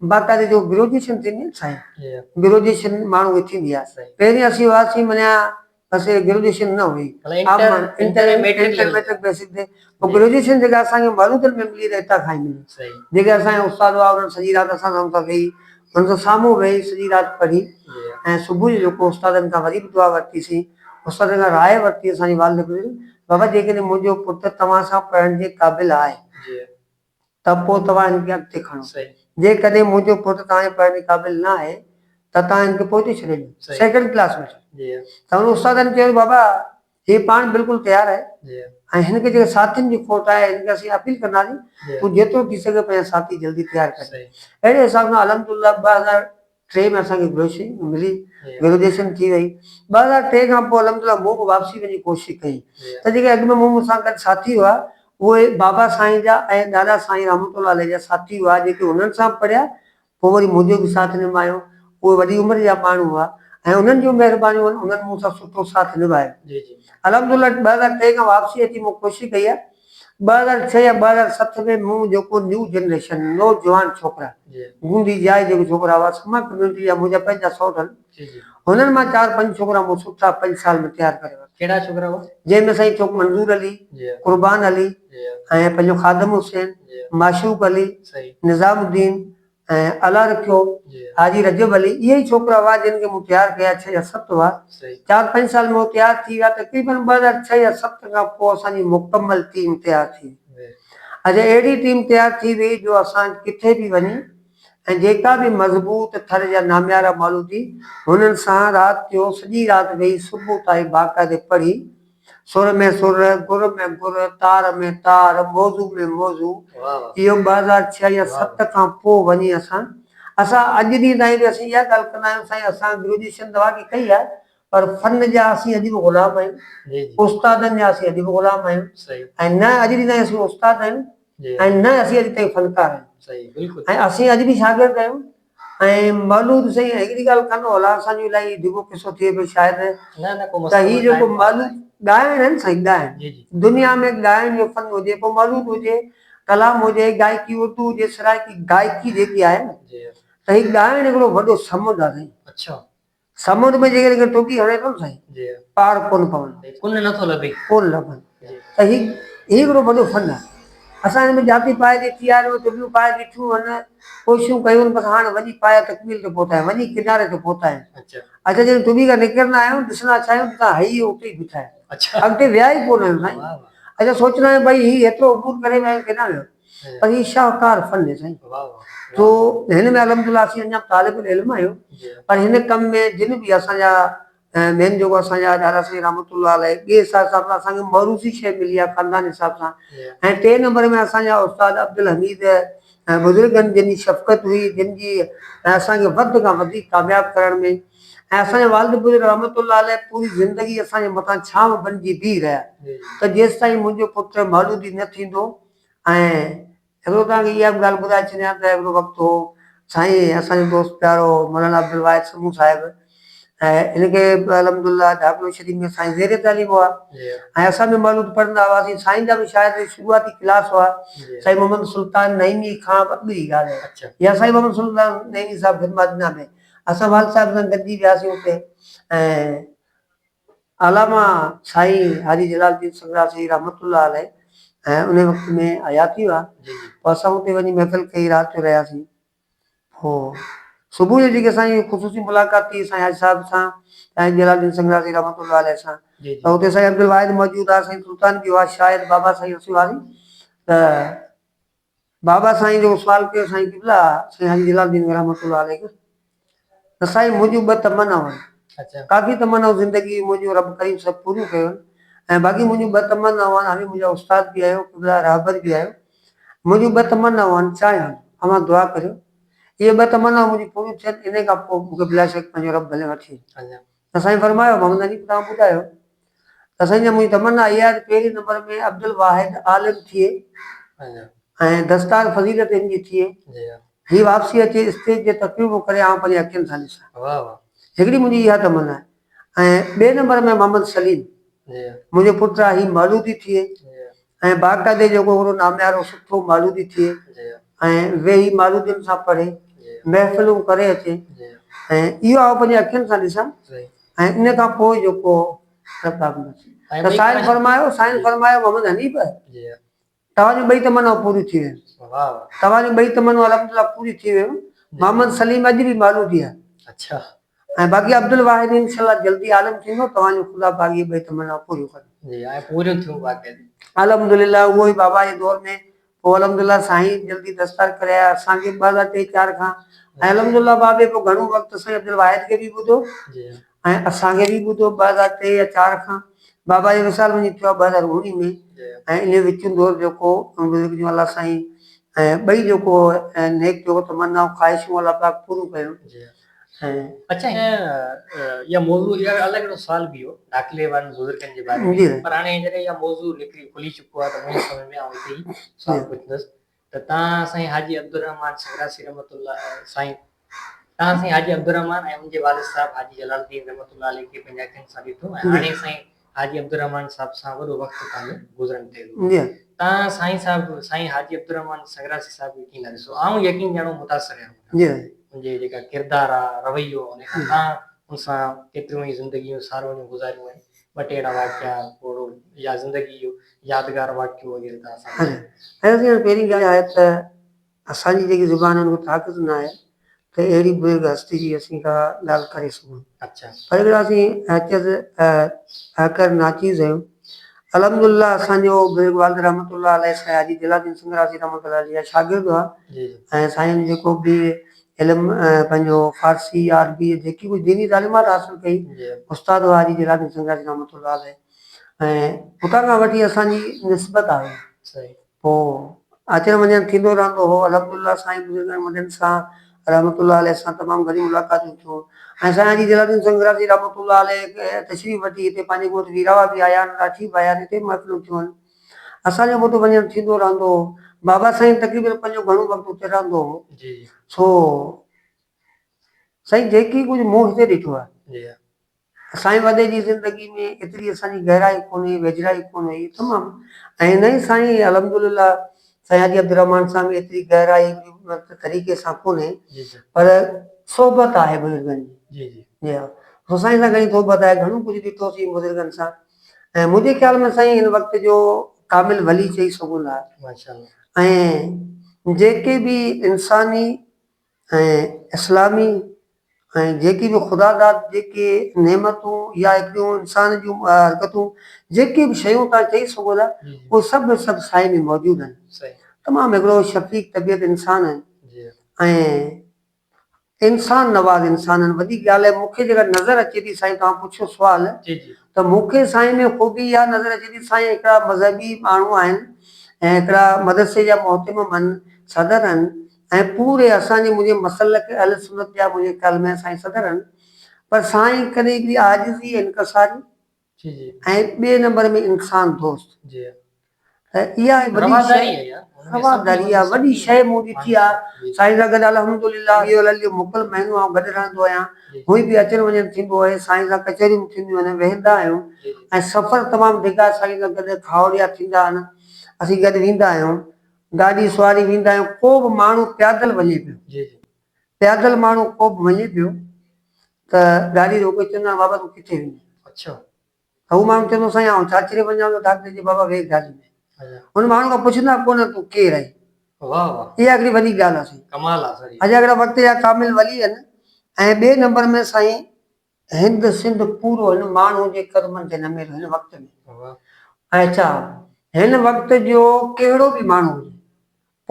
Speaker 2: باقاعدي جو گروجيشن ٿيندي آهي سائين گروجيشن ماڻهو کي ٿيندي آهي پهرين اسين هئاسين مڃيا اسين گريجوئيشن نه هئي inter ۽ matric level matric basic تي پوء گريجوئيشن جيڪا اسان کي مارون ڪري ملي ته هتان کان ئي ملي جيڪي اسان جا استاد هئا انهن سڄي رات اسان سان اتان ويهي انهن سان سامهون ويهي سڄي رات پڙهي ۽ صبح جو جيڪو استادن کان وري به دعا ورتي سين استادن کان راء ورتي اسان جي والد گذري ويو بابا جيڪڏهن منهنجو پٽ توهان سان پڙهڻ جي قابل آهي ته پوء توهان هن کي اڳتي کڻو. جيڪڏهن منهنجو پٽ توهان جي پڙهڻ جي قابل نه آهي ته توهان هن کي پوئتي ڇڏي ڏيو، سيڪنڊ ڪلاس ۾ ڇڏيو. ته هن استاد کي چيو ته بابا هي پاڻ بلڪل تيار آهي ۽ هن کي جيڪي ساٿين جي کوٽ آهي هن کي اسين اپيل ڪنداسين تون جيترو ٿي سگهي پنهنجا ساٿي جلدي تيار ڪر. اهڙي حساب سان الحمدلله ٻه هزار ٽي ۾ اسان کي گروشي ملي گروجيشن ٿي وئي ٻه هزار ٽي کان پوء الحمد لله مون به واپسي وڃي ڪوشش ڪئي ته جيڪي اڳ ۾ مون سان گڏ ساٿي هئا اهي بابا سائين جا ۽ ڏاڏا سائين رحمت الله عليه جا ساٿي هئا جيڪي هنن سان پڙهيا پوء وري منهنجو به ساٿ نڀايو اهي وڏي عمر جا ماڻهو هئا ۽ انهن جون مهربانيون هن انهن مون سان سٺو ساٿ نڀايو الحمد لله ٻه هزار ٽي کان واپسي اچي مون ڪوشش ڪئي آهي ٻه هزار ڇهه يا ٻه هزار ست ۾ مون جيڪو نيو جنريشن، نوجوان ڇوڪرا، گوندي جا جيڪي ڇوڪرا هئا سما ڪميونٽي جا منهنجا پنهنجا سؤ ٿن هنن مان چار پنج ڇوڪرا مون سٺا پنج سال ۾ تيار ڪري ورتا. ڪهڙا ڇوڪرا هئا؟ جنهن
Speaker 1: ۾ سائين ڇوڪ منظور
Speaker 2: علي، قربان علي ۽ پنهنجو خادم حسين، معشوق علي، نظام الدين، ۽ الله رکيو حاجي رجب علي اهي ئي ڇوڪرا هئا جن کي مون تيار ڪيا ڇهه يا ست هئا چار پنج سال ۾ هو تيار ٿي ويا تقريبن ٻه هزار ڇهه يا ست کان پوء اسان جي مڪمل ٽيم تيار ٿي وئي اجي اهڙي ٽيم تيار ٿي وئي جو اسان ڪٿي به وڃي ۽ جيڪا به مضبوط ٿر جا ناميارا مالودي هنن سان رات جو سڄي رات ويهي صبح تائين باقاعدي پڙهي سر ۾ سر، گر ۾ گر، تار ۾ تار، موضوع ۾ موضوع، اهو ٻه هزار ڇهه يا ست کان پوء وڃي اسان، اسان اڄ ڏينهن تائين به اسين اها ڳالهه ڪندا آهيون سائين اسان گريجوئيشن ته واقعي ڪئي آهي پر فن جا اسين اڄ به غلام آهيون، استادن جا اسين اڄ به غلام آهيون ۽ نه اڄ ڏينهن تائين اسين استاد آهيون ۽ نه اسين اڄ تائين فنڪار آهيون ۽ اسين اڄ به شاگرد آهيون. ۽ مولود سائين هڪڙي ڳالهه ڪندا هئلا اسان جو الائي ڊگهو قصو ٿئي پيو شايد ته هي جيڪو مولود ڳائڻ آهن سائين ڳائڻ دنيا ۾ ڳائڻ جو فن هجي پوء مولود هجي ڪلام هجي گائڪي اردو هجي سرائڪي گائڪي جيڪي آهي نه ته هي ڳائڻ هڪڙو وڏو سمنڊ آهي سائين سمنڊ ۾ جيڪڏهن ڪير ٽوٻي هڻي ٿو نه سائين پار ڪونه پوندو. ڪن نٿو لڀي. ڪونه لڀن. ته هي هي هڪڙو وڏو فن آهي. اسان هن ۾ جاتي پايي جي ٿي آيا آهيون، ٽوٻيون پايي بيٺيون آهن، ڪوششون ڪيون آهن، بس هاڻ وڃي پايي تڪميل تي پهتا آهيون، وڃي ڪناري تي پهتا آهيون. اچا جڏهن ٽوٻي کان نڪرندا آهيون، ڏسندا ڇا آهيون جتان هيء هو اتي ئي بيٺا آهيون. اڳتي ويا ئي ڪونه آهيون سائين. اچا سوچندا آهيون ڀئي هي هيترو عبور ڪري ويا آهيون ڪيڏانهن ويا. پر هي شاهڪار فن هي سائين جو هن ۾ الحمدلله اسين اڃا طالب العلم آهيون پر هن ڪم ۾ جن به اسان جا مين جيڪو اسان جا ڏاڏا سائين رحمت الله عليه ٻئي حساب سان اسان کي موروثي شيء ملي آهي خاندان حساب سان ۽ ٽئين نمبر ۾ اسان جا استاد عبدالحميد ۽ بزرگن جن جي شفقت هئي جن جي اسان کي وڌ کان وڌيڪ ڪامياب ڪرڻ ۾ ۽ اسان جا والد بزرگ رحمت الله عليه پوري زندگي اسان جي مٿان ڇانو بنجي بيهي رهيا ته جيستائين منهنجو پٽ مولودي نه ٿيندو ۽ هڪڙو توهان کي اها به ڳالهه ٻڌائي ڇڏيان ته هڪڙو وقت هو سائين اسان جو دوست پيارو مولانا عبدالواحد سمون صاحب ۽ ان کي به الحمدالله ڍاڪڙو شريف ۾ سائين زير تعليم هئا ۽ اسان به مولود پڙهندا هئاسين سائين جا به شايد شروعاتي ڪلاس هئا سائين محمد سلطان نعيمي کان به اڳ جي ڳالهه آهي يا سائين محمد سلطان نعيمي صاحب خدمات ڏنا ۾ اسان والد صاحب سان گڏجي وياسين اتي ۽ علامه سائين حاجي جلال الدين سنگراسري رحمة الله عليه ۽ انهي وقت ۾ حياتي هئا پوء اسان اتي وڃي محفل ڪئي رات جو رهياسين پوء صبح جو جيڪي اسان جي خصوصي ملاقات ٿي سائين حاجي صاحب سان سائين جلال الدين سنگراسري رحمة الله عليه سان ته اتي سائين عبدالواحد موجود هئا سائين سلطان به هئا شايد بابا سائين اسي واري ته بابا سائين جو سوال ڪيو سائين قبلا سائين حاجي جلال الدين رحمة الله عليه کان ته سائين منهنجون ٻه تمنائون آهن ڪافي تمنائون زندگي جون منهنجون رب ڪريم سڀ پوريون ڪيون آهن ۽ باقي منهنجون ٻه تمنائون آهن اوهين منهنجا استاد به آهيو قبلا رهبر به آهيو منهنجون ٻه تمنائون آهن چاهيان اوهان دعا ڪريو اهي ٻه تمنائون منهنجون پوريون ٿين انهي کان پوء مون کي بلاشڪ پنهنجو رب ڀلي وٺي وڃي. ته سائين فرمايو محمد حنيف توهان ٻڌايو ته سائين جان منهنجي تمنا اها آهي ته پهرين نمبر ۾ عبدالواحد عالم ٿئي ۽ دستار فضيلت هن جي ٿئي هي واپسي اچي اسٽيج جي تقريبون ڪري آئون پنهنجي اکين سان ڏسان هڪڙي منهنجي اها تمنا آهي ۽ ٻئي نمبر ۾ محمد سليم منهنجو پٽ آهي هي مولودي ٿئي ۽ باقاعدي جيڪو هڪڙو ناميارو سٺو مولودي ٿئي ۽ ويهي مولودين سان پڙهي، محفلون ڪري اچي ۽ اهو آئون پنهنجي اکين سان ڏسان ۽ ان کان پوء جيڪو ته سائين فرمايو، سائين فرمايو محمد حنيف توهان جون ٻئي تمنائون پوريون ٿي ويون. توهان جون ٻئي تمنائون الحمدلله پوريون ٿي ويون. محمد سليم اڄ به مولودي آهي. ۽ باقي عبدالواحد انشاء الله جلدي عالم ٿيندو توهان جو خدا باقي ٻئي تمنائون پوريون ڪندو. جي ۽ پوريون ٿيون باقي جي. الحمدلله اهو ئي بابا جي دور ۾ پوء الحمدلله سائين جلدي دستار ڪري آيا اسان کي ٻه هزار ٽي چار کان ۽ الحمدلله بابي پوء گهڻو وقت سائين عبدالواحد کي به ٻڌو ۽ اسان کي به ٻڌو ٻه هزار ٽي يا چار کان بابا جو وصال وڃي ٿيو آهي ٻه هزار اوڻيهه ۾ ۽ انهي وچون دور جيڪو بزرگ جون الله سائين ۽ ٻئي جيڪو نيڪ جوڙو تمنائون خواهشون الله پاڪ پوريون ڪيون.
Speaker 1: اچا اها موضوع اها الڳ هڪڙو سوال به هو ڏاخلي وارن بزرگن جي باري ۾ پر هاڻي جڏهن اها موضوع نڪري کلي چڪو آهي ته منهنجي سمجهه ۾ آئون هتي ئي سوال پڇندس ته تان سائين حاجي عبدالرحمان سنگراسي رحمت الله سائين تان سائين حاجي عبدالرحمان ۽ ان جي والد صاحب حاجي جلال الدين رحمت الله عليه کي پنهنجي اکين سان ڏٺو ۽ هاڻي سائين حاجي عبدالرحمان صاحب سان وڏو وقت پنهنجو گذرن ڪيو. تان سائين صاحب سائين حاجي عبدالرحمان سنگراسي صاحب کي ڪين نه ڏسو. آئون يقين ڄڻو متاثر رهيو هجان. ان جي جيڪا ڪردار آ، رويو آ، انهيء کان آئون ان سان ڪيتريون ئي زندگيء جون ساروڻيون گذاريون آهن. ٻه ٽي اهڙا واقعا پوڙهو يا زندگيء جو يادگار واقعو وغيره ته اسان کي. اهو ٿيڻ پهرين ڳالهه آهي ته
Speaker 2: اسان جي جيڪي زبانن کي طاقت ناهي ته اهڙي بزرگ هستي جي اسين ڪا ڳالهه ڪري سگهون. پر اهڙا اسين حيثيت اهڪر ناچيز آهيون. الحمد لله اسان جو بزرگ والد رحمت الله عليه سائين حاجي دل الدين سنگراسي رحمة الله عليه جا شاگرد هئا ۽ سائين
Speaker 1: جيڪو به
Speaker 2: علم پنهنجو فارسي يا عربي جيڪي ڪجهه ديني تعليمات حاصل ڪئي استاد هئا
Speaker 1: حاجي دل
Speaker 2: الدين سنگراسي رحمة الله عليه ۽ اتان کان وٺي اسان جي نسبت آهي. هو. اچڻ وڃڻ ٿيندو رهندو هو. الحمد الله سائين بزرگن وڏن سان رحمة الله عليه سان تمام گهڻيون ملاقاتون ٿيون ۽ سائين حاجي جلال الدين سنگراسي رحمة الله عليه تشريف وٺي هتي پنهنجي ڳوٺ ويراوا به آيا آهن راٺي به آيا آهن هتي به محفلون ٿيون آهن اسان جو به اتي وڃڻ ٿيندو رهندو هو بابا سائين تقريبن پنهنجو گهڻو وقت اتي رهندو هو سو سائين جيڪي ڪجهه مون هتي ڏٺو آهي
Speaker 1: سائين وڏي
Speaker 2: جي زندگي ۾ ايتري اسان جي گهرائي ڪونه هئي ويجهڙائي ڪونه هئي تمام ائين نه هئي سائين الحمد لله سائين حاجي عبدالرحمان سان به ايتري گهرائي طريقي سان ڪونه پر صحبت آهي بزرگن جي جي ها
Speaker 1: سو سائين
Speaker 2: سان گهڻي صحبت آهي گهڻو ڪجهه ڏٺو سين بزرگن سان ۽ منهنجي خيال ۾ سائين هن وقت جو ڪامل ولي چئي سگهون ٿا
Speaker 1: ۽
Speaker 2: جيڪي به انساني ۽ اسلامي ۽ جيڪي به خدا داد جيڪي نعمتون يا هڪڙيون انسان جون حرڪتون جيڪي به شيون تان چئي سگهو ٿا اهي سڀ سڀ
Speaker 1: سائي ۾
Speaker 2: موجود آهن تمام هڪڙو شفيق طبيعت انسان آهن ۽ انسان نواز انسان آهن وڏي ڳالهه مون کي جيڪا نظر اچي ٿي سائين توهان پڇيو سوال ته مون
Speaker 1: کي سائين
Speaker 2: ۾ خوبي اها نظر اچي ٿي سائين هڪڙا مذهبي ماڻهو آهن ۽ هڪڙا مدرسي جا محتمم آهن صدر آهن ۽ پوري اسان جي منهنجي مسلڪ اهل سنت جا منهنجي خيال ۾ سائين صدر هن پر سائين ڪڏهن هڪڙي عاجزي ۽ انڪساري ۽
Speaker 1: ٻئي نمبر ۾
Speaker 2: انسان دوست
Speaker 1: ته
Speaker 2: اها وڏي شيء
Speaker 1: رواداري اها وڏي
Speaker 2: شيء مون
Speaker 1: ڏٺي آ
Speaker 2: سائين سان گڏ
Speaker 1: الحمدلله
Speaker 2: اهو الهي جو موڪل مهينو آئون گڏ رهندو آهيان هونئن به اچڻ
Speaker 1: وڃڻ
Speaker 2: ٿيندو آهي سائين سان ڪچهريون به ٿينديون آهن ويهندا آهيون ۽ سفر
Speaker 1: تمام ڊگها
Speaker 2: سائين سان گڏ کاهوڙيا ٿيندا آهن اسين گڏ ويندا آهيون گاڏي سواري ويندا آهيون ڪو به ماڻهو پيادل وڃي پيو جي جي
Speaker 1: پيادل ماڻهو
Speaker 2: ڪو به وڃي پيو ته گاڏي روڪي چوندا آهن بابا تون ڪٿي وڃين اڇا
Speaker 1: ته هو ماڻهو
Speaker 2: چوندو سائين آئون چاچري وڃان ٿو ڊاڪٽر جي بابا ويهه گاڏي ۾ ان ماڻهو کان
Speaker 1: پڇندا
Speaker 2: ڪو نه تون ڪير آهين واهه واهه
Speaker 1: اها هڪڙي وڏي ڳالهه آهي سائين
Speaker 2: ڪمال آهي سائين اجاڳڙا
Speaker 1: وقت جا ڪامل
Speaker 2: ولي آهن ۽ ٻئي نمبر ۾ سائين هند سنڌ پورو هن ماڻهو جي قدمن تي نميل هن وقت ۾ ۽ ڇا هن وقت جو ڪهڙو به ماڻهو هجي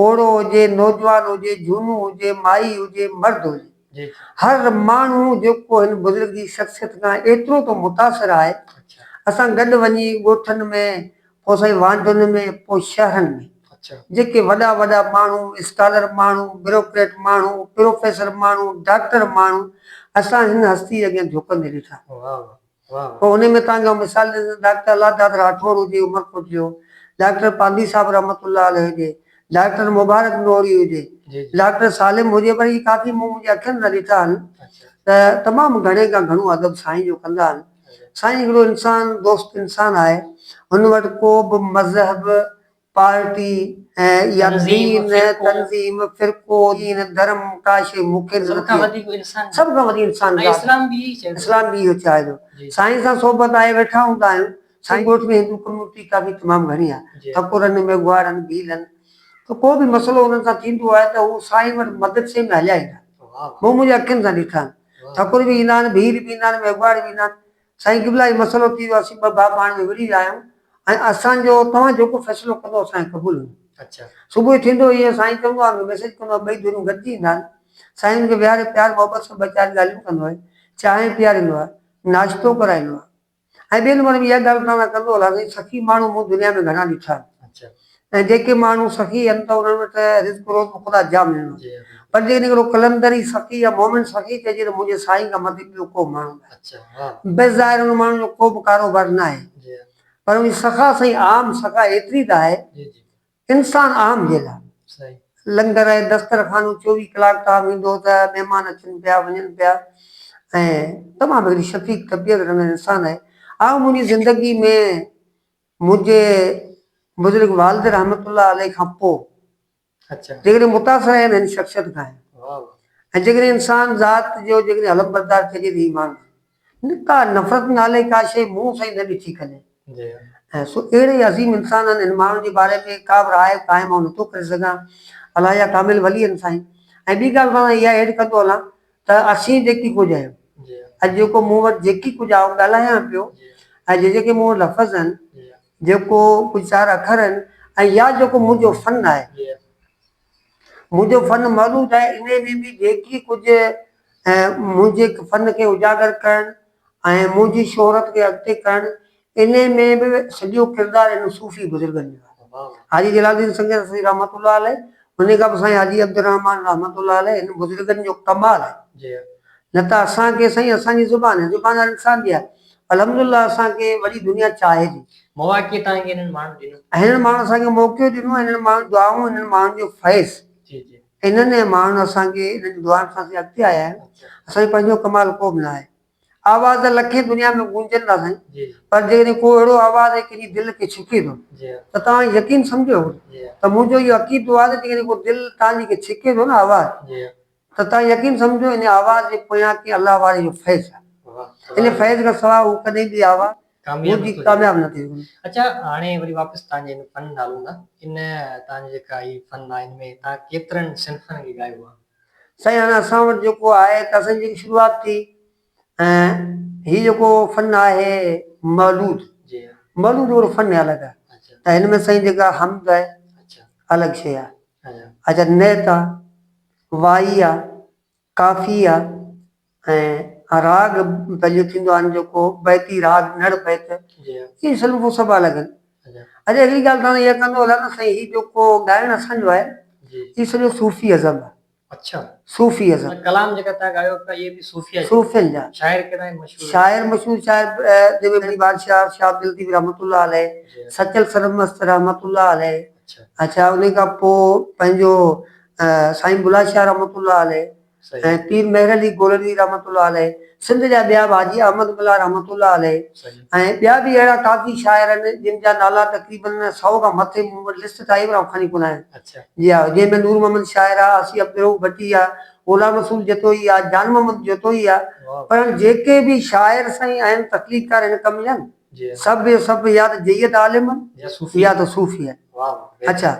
Speaker 2: پوڙهو هجي نوجوان هجي جهونو هجي مائي هجي مرد هجي هر
Speaker 1: ماڻهو
Speaker 2: جيڪو هن بزرگ جي شخصيت کان ايترو ته متاثر آهي اسان
Speaker 1: گڏ وڃي
Speaker 2: ڳوٺن ۾ پوء سائين وانڊن ۾ پوء شهرن ۾. اڇا. جيڪي وڏا
Speaker 1: وڏا
Speaker 2: ماڻهو، اسڪالر ماڻهو، بيروڪريٽ ماڻهو، پروفيسر ماڻهو، ڊاڪٽر ماڻهو اسان هن هستي اڳيان جهڪندي ڏٺا. واهه واهه
Speaker 1: واهه. پوء انهي ۾ توهان کي آئون
Speaker 2: مثال ڏيندس ڊاڪٽر الله داد راٺوڙ هجي عمرڪوٽ جو، ڊاڪٽر پانڌي صاحب رحمت الله عليه هجي، ڊاڪٽر مبارڪ نوحڙي هجي، جي جي. ڊاڪٽر
Speaker 1: سالم هجي پر
Speaker 2: هي ڪافي مون منهنجي اکين سان ڏٺا آهن اڇا. ته
Speaker 1: تمام گهڻي
Speaker 2: کان گهڻو ادب سائين جو ڪندا آهن. سائين هڪڙو انسان دوست انسان آهي هن وٽ ڪو به مذهب پارٽي يا دين
Speaker 1: تنظيم فرقو
Speaker 2: دين ڌرم ڪا شي مونکي نه سڀ کان وڌيڪ انسان
Speaker 1: سڀ
Speaker 2: کان وڏي
Speaker 1: انسان ذات
Speaker 2: اسلام به اهي
Speaker 1: چاهي
Speaker 2: اسلام
Speaker 1: به اهي چاهي ٿو
Speaker 2: سائين سان صحبت
Speaker 1: آهي
Speaker 2: ويٺا هوندا آهيون سائين ڳوٺ ۾ هندو ڪميونٽي ڪافي تمام گهڻي آهي ٺڪرن ميگهواڙن ڀيلن ته ڪو به مسئلو انهن سان ٿيندو آهي ته هو سائين وٽ مدد سين ۾ هليا ايندا مون منهنجي اکين
Speaker 1: سان ڏٺا
Speaker 2: آهن. ٺڪر به ايندا آهن، ڀيل به ايندا آهن، ميگهواڙ به ايندا آهن. سائين قبلا هي مسئلو ٿي ويو اسين ٻه ڀاء پاڻ ۾ وڙهي ويا آهيون ۽ اسان جو توهان جيڪو فيصلو ڪندو اسان کي قبول هوندو. صبح
Speaker 1: ٿيندو هي
Speaker 2: سائين چوندو آهي مون کي ميسيج ڪندو آهي ٻئي ڌريون گڏجي ايندا آهن. سائين هن کي ويهاري پيار محبت سان ٻه چار ڳالهيون ڪندو آهي. چانهه پياريندو آهي. ناشتو ڪرائيندو آهي. ۽ ٻين عمر ۾ اها ڳالهه اسان سان ڪندو هلاسين، سخي ماڻهو مون دنيا ۾ گهڻا ڏٺا آهن، ۽ جيڪي
Speaker 1: ماڻهو
Speaker 2: سخي هن ته انهن وٽ رزق روز بخدا جام هيڻو آهي، پر جيڪڏهن هڪڙو قلندر ئي سخي يا مؤمن سخي چئجي ته منهنجي سائين کان مٿي ٻيو ڪو ماڻهو ناهي، بس
Speaker 1: ظاهر انهن ماڻهن
Speaker 2: جو ڪوبه ڪاروبار ناهي، پر انهن جي
Speaker 1: سخا
Speaker 2: سائين عام سخا ايتري ته آهي،
Speaker 1: انسان اهم
Speaker 2: جي لاء لنگر
Speaker 1: ۽
Speaker 2: دسترخوان چوويهه ڪلاڪ تان ويندو ته مهمان اچن پيا وڃن پيا ۽ تمام هڪڙي شفيق طبيعت رنگ انسان آهي اهو منهنجي زندگي ۾ منهنجي بزرگ والد رحمت الله عليه کان پو
Speaker 1: جيڪڏهن متاثر
Speaker 2: آهي ته هن شخصيت کان آهي ۽
Speaker 1: جيڪڏهن
Speaker 2: انسان ذات جو جيڪڏهن علمبردار چئجي ته ايمان نڪا نفرت نالي ڪا شيء منهن سان ئي نه ڏٺي ڪڏهن ۽
Speaker 1: سو اهڙي
Speaker 2: عظيم انسان ان هن ماڻهن جي باري ۾ ڪا به راء قائم آئون نٿو ڪري سگهان الله يا ڪامل ولي ان سائين ۽ ٻي ڳالهه مان اها ايڊ ڪندو هلان ته اسين جيڪي ڪجهه آهيون اڄ جيڪو مون وٽ جيڪي ڪجهه آئون ڳالهايان پيو ۽ جي جيڪي مون وٽ لفظ آهن جيڪو ڪجهه چار اکر آهن ۽ يا جيڪو منهنجو فن آهي منهنجو فن معروض آهي، انهيء ۾ به جيڪي ڪجهه ۽ منهنجي فن کي اجاگر ڪرڻ ۽ منهنجي شهرت کي اڳتي ڪرڻ، انهيء ۾ به سڄو ڪردار انهن صوفي بزرگن جو آهي. حاجي جلال الدين
Speaker 1: سنگين
Speaker 2: رسوي رحمة الله عليه، انهيء کان پوء سائين حاجي عبدالرحمان رحمة الله عليه، هن بزرگن جو ڪمال آهي. نه
Speaker 1: ته اسان
Speaker 2: کي سائين اسان جي زبان، زبان هر انسان جي آهي، الحمدلله اسان کي وڏي دنيا چاهي ٿي. مواقعي تان کي انهن
Speaker 1: ماڻهن ڏنو. هنن ماڻهن اسان کي موقعو
Speaker 2: ڏنو ۽ هنن ماڻهن دعائون ۽ هنن ماڻهن جو فيض. جي جي. هنن
Speaker 1: ۽ ماڻهن اسان
Speaker 2: کي هنن جي دعائن سان اسين اڳتي آيا آهيون. اچا. اسان جو پنهنجو ڪمال
Speaker 1: ڪو
Speaker 2: به ناهي. آواز ته لکين دنيا ۾ گونجن ٿا سائين. جي جي. پر جيڪڏهن ڪو
Speaker 1: اهڙو
Speaker 2: آواز ۽ ڪنهن جي دل کي ڇڪي ٿو. جي ها. ته توهان يقين سمجهو. جي ها. ته منهنجو
Speaker 1: اهو
Speaker 2: عقيدو آهي ته جيڪڏهن ڪو دل توهان جي کي ڇڪي ٿو نه آواز. جي ها. ته
Speaker 1: توهان يقين
Speaker 2: سمجهو ان آواز جي پويان ڪنهن الله واري جو فيض آهي. ان فيض
Speaker 1: کان سواء هو
Speaker 2: ڪڏهن به آواز ٻڌي ڪامياب
Speaker 1: نه ٿيندو. اڇا
Speaker 2: هاڻي وري
Speaker 1: واپس تان جي ان فن ڏانهن هلون ٿا. ان تان جي جيڪا هي فن آهي ان ۾ تان ڪيترن صنفن کي ڳايو آهي؟ سائين هاڻي اسان
Speaker 2: وٽ جيڪو آهي ته اسان جي جيڪي شروعات ٿي. ۽ هي جيڪو فن آهي مولود
Speaker 1: مولود اور فن
Speaker 2: ۾ الڳ آهي ته هن ۾ سائين
Speaker 1: جيڪا
Speaker 2: حمد آهي الڳ شيء
Speaker 1: آهي
Speaker 2: اچا
Speaker 1: نعت
Speaker 2: آهي وائي آهي ڪافي آهي ۽ راڳ پنهنجو ٿيندو آهن جيڪو بيتي راڳ نڙ بيت هي سلوڪ
Speaker 1: هو سڀ
Speaker 2: الڳ آهن اچا هڪڙي
Speaker 1: ڳالهه سان
Speaker 2: اها ڪندو هلان ته سائين هي جيڪو ڳائڻ اسان جو آهي هي سڄو
Speaker 1: صوفي
Speaker 2: ازم آهي اڇا.
Speaker 1: صوفي ازم. ۽
Speaker 2: ڪلام جيڪا تنهن
Speaker 1: ڳايو پيا اهي به صوفيا جا. صوفين جا.
Speaker 2: شاعر
Speaker 1: ڪهڙا آهن مشهور. شاعر
Speaker 2: مشهور شاعر جيڪي وري بادشاهه شاهه عبداللطيف رحمت الله عليه سچل سرمست رحمت الله عليه اڇا انهي
Speaker 1: کان پو
Speaker 2: پنهنجو سائين بلا شاهه رحمت الله عليه ۽ پير
Speaker 1: مهر علي
Speaker 2: گولڙوي رحمت الله عليه سنڌ جا ٻيا به حاجي احمد ملاح رحمت الله عليه ۽ ٻيا به
Speaker 1: اهڙا
Speaker 2: ڪافي شاعر آهن جن جا نالا تقريباً سئو کان مٿي مون وٽ لسٽ تائين به آئون کڻي ڪونه آيم. جي آء جنهن ۾
Speaker 1: نور
Speaker 2: محمد شاعر آ، آصي عبدالرئوف ڀٽي آ، غلام رسول جتوئي آ، جان محمد جتوئي آ پر جيڪي
Speaker 1: به
Speaker 2: شاعر سائين اهم تخليقڪار هن ڪم جا سڀ جو سڀ
Speaker 1: يا ته
Speaker 2: جيد عالم آهن يا ته صوفي
Speaker 1: آهن.
Speaker 2: اڇا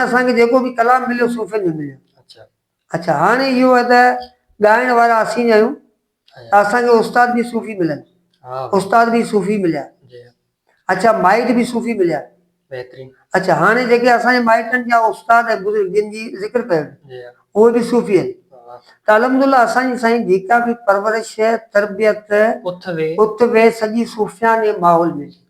Speaker 2: اسان کي جيڪو به ڪلام مليو صوفين جو مليو. اڇا
Speaker 1: هاڻي
Speaker 2: اهو آهي ته ڳائڻ وارا اسين ئي آهيون ته اسان کي استاد به
Speaker 1: صوفي
Speaker 2: ملن استاد
Speaker 1: به صوفي
Speaker 2: مليا
Speaker 1: اڇا مائٽ
Speaker 2: به صوفي مليا
Speaker 1: اڇا هاڻي جيڪي
Speaker 2: اسان جي مائٽن جا استاد ۽ بزرگ جن جي ذڪر ڪيو اهي به
Speaker 1: صوفي آهن
Speaker 2: ته الحمدالله
Speaker 1: اسان
Speaker 2: جي سائين جيڪا به پرورش تربيت
Speaker 1: اٿ ويهه سڄي
Speaker 2: صوفيانه ماحول ۾ ٿي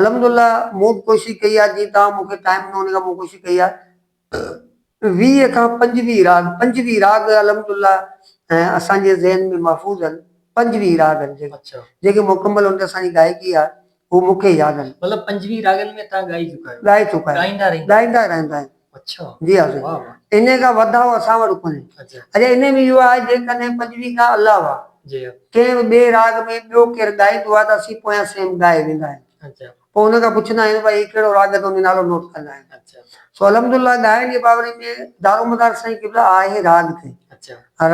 Speaker 2: الحمدالله مون به ڪوشش ڪئي آهي جيئن توهان مون کي ٽائيم ڏنو ان ڪري مون ڪوشش ڪئي آهي ويهه کان پنجويهه راڳ پنجويهه راڳ الحمدالله اسان جي ذهن ۾ محفوظ آهن پنجويهه راڳ آهن جيڪي اڇا جيڪي
Speaker 1: مڪمل ان تي
Speaker 2: اسان جي گائڪي آهي هو مون کي ياد آهن مطلب پنجويهه راڳن ۾
Speaker 1: توهان ڳائي چڪا آهيو ڳائي چڪا آهيون ڳائيندا رهندا
Speaker 2: آهيون ڳائيندا رهندا
Speaker 1: آهيون
Speaker 2: جي حاضري انهي کان
Speaker 1: وڌاء اسان
Speaker 2: وٽ ڪونهي. اڄ انهي ۾ اهو
Speaker 1: آهي
Speaker 2: جيڪڏهن پنجوي کان علاوه ڪنهن
Speaker 1: به ٻئي راڳ
Speaker 2: ۾ ٻيو ڪير ڳائيندو آهي ته اسين پويان سيم ڳائي ويندا آهيون. پوء ان کان پڇندا
Speaker 1: آهيون
Speaker 2: ته ڀائي هي ڪهڙو راڳ آهي ته انهي نالو نوٽ ڪندا آهن. سو الحمد
Speaker 1: لله
Speaker 2: ڳائڻ جي بابري ۾ دارومدار سائين قبله آهي راڳ تي.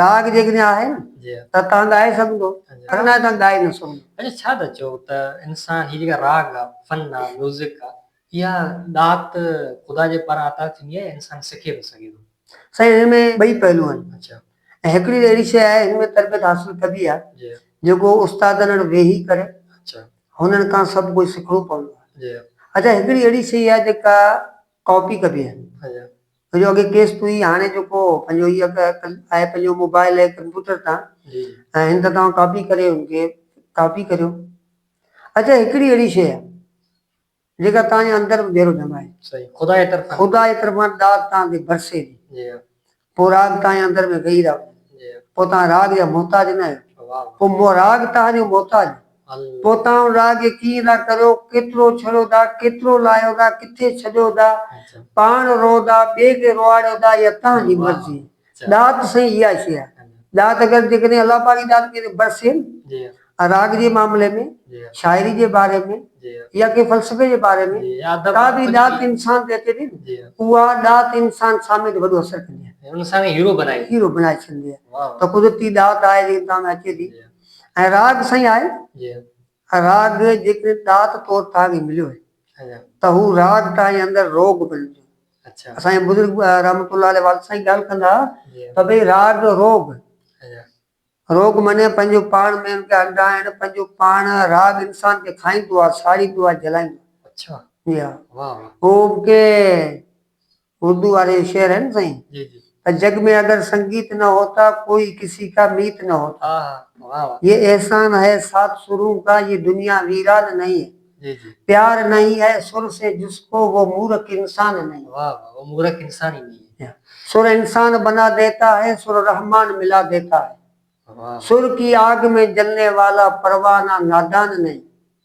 Speaker 2: راڳ
Speaker 1: جيڪڏهن آهي
Speaker 2: نه ته تهان ڳائي
Speaker 1: سگهندو
Speaker 2: اگر ناهي تهان ڳائي
Speaker 1: نه سگهندو.
Speaker 2: اچا ڇا ٿا چئو
Speaker 1: ته انسان هي جيڪا راڳ آهي فن آهي ميوزڪ آهي اها ڏات خدا جي پاران عطا
Speaker 2: ٿيندي
Speaker 1: آهي، انسان
Speaker 2: سکي
Speaker 1: به
Speaker 2: سگهي ٿو. سائين
Speaker 1: هن ۾ ٻئي
Speaker 2: پهلو
Speaker 1: آهن ۽ هڪڙي
Speaker 2: اهڙي شيء آهي هن ۾ تربيت حاصل ڪبي آهي جيڪو
Speaker 1: استادن
Speaker 2: اڙ ويهي ڪري هنن
Speaker 1: کان سڀ
Speaker 2: ڪجهه سکڻو پوندو آهي اڇا هڪڙي
Speaker 1: اهڙي
Speaker 2: شيء آهي جيڪا ڪاپي ڪبي آهي ڇو جو اڳي
Speaker 1: ڪيس ٿئي
Speaker 2: هاڻي جيڪو پنهنجو هي اڳ آهي پنهنجو موبائل ۽ ڪمپيوٽر تان ۽ هن
Speaker 1: تان توهان
Speaker 2: ڪاپي ڪري هن کي ڪاپي ڪريو اڇا هڪڙي اهڙي شيء آهي. جيڪا توهان جي اندر به ديرو ڄمائي. صحيح خدا جي طرفان.
Speaker 1: خدا جي طرفان ڏات
Speaker 2: توهان تي برسي ٿي. جي ها. پوء
Speaker 1: راڳ
Speaker 2: توهان جي اندر ۾ ويهي رهبو. جي ها. پوء توهان
Speaker 1: راڳ جا
Speaker 2: محتاج نه آهيو. واهه واهه. پوء مون راڳ
Speaker 1: توهان
Speaker 2: جو محتاج آهي. الله. پوء توهان
Speaker 1: ان راڳ کي
Speaker 2: ڪيئن ٿا ڪريو، ڪيترو ڇڙيو ٿا، ڪيترو لاهيو ٿا، ڪٿي ڇڏيو ٿا، اچھا. پاڻ
Speaker 1: روئو ٿا،
Speaker 2: ٻئي کي روئاڙيو ٿا يا توهان جي واهه واهه. مرضي.
Speaker 1: ڏات
Speaker 2: سائين
Speaker 1: اها شيء
Speaker 2: آهي ڏات اگر جيڪڏهن الله پاڪ جي ڏات ڪنهن تي برسي ها نه
Speaker 1: راڳ جي معاملي
Speaker 2: ۾ شاعري جي
Speaker 1: باري ۾
Speaker 2: يا ڪنهن فلسفي
Speaker 1: جي
Speaker 2: باري ۾ ڪا به ڏات
Speaker 1: انسان
Speaker 2: تي اچي
Speaker 1: ٿي
Speaker 2: نه اها
Speaker 1: ڏات
Speaker 2: انسان سامي تي وڏو اثر ڪندي آهي انسان کي هيرو بنائي
Speaker 1: هيرو بنائي ڇڏندي آهي
Speaker 2: ته قدرتي ڏات آهي جيڪا تنهن ۾ اچي ٿي ۽ راڳ
Speaker 1: سائين
Speaker 2: آهي ۽
Speaker 1: راڳ
Speaker 2: جيڪڏهن ڏات طور توهان کي مليو ته هو
Speaker 1: راڳ
Speaker 2: توهان جي اندر روڳ بڻجندو. اسان جا
Speaker 1: بزرگ
Speaker 2: رحمة الله عليه والد سائين ڳالهه ڪندا ها ته ڀئي
Speaker 1: راڳ
Speaker 2: روڳ،
Speaker 1: روڳ معني
Speaker 2: پنهنجو پاڻ ۾ ان کي هلندا آهن، پنهنجو پاڻ راڳ انسان کي کائيندو آهي، ساڙيندو آهي، جلائيندو آهي. جي ها. هو به
Speaker 1: ڪي
Speaker 2: اردو واري جو شعر آهي نه سائين ته جڳ
Speaker 1: ۾ اگر
Speaker 2: سنگيت نه هوتا ڪوئي ڪسي ڪا ميت نه هوتا يي
Speaker 1: احسان هي
Speaker 2: سات سرون ڪا يي دنيا ويران نهين هي پيار
Speaker 1: نهين هي
Speaker 2: سر سي جس ڪو وو مورک انسان نهين
Speaker 1: هي سر انسان
Speaker 2: بنا ديتا هي سر رحمان ملا ديتا هي سر
Speaker 1: ڪي آگ
Speaker 2: مين جلني والا پروانه نادان نهين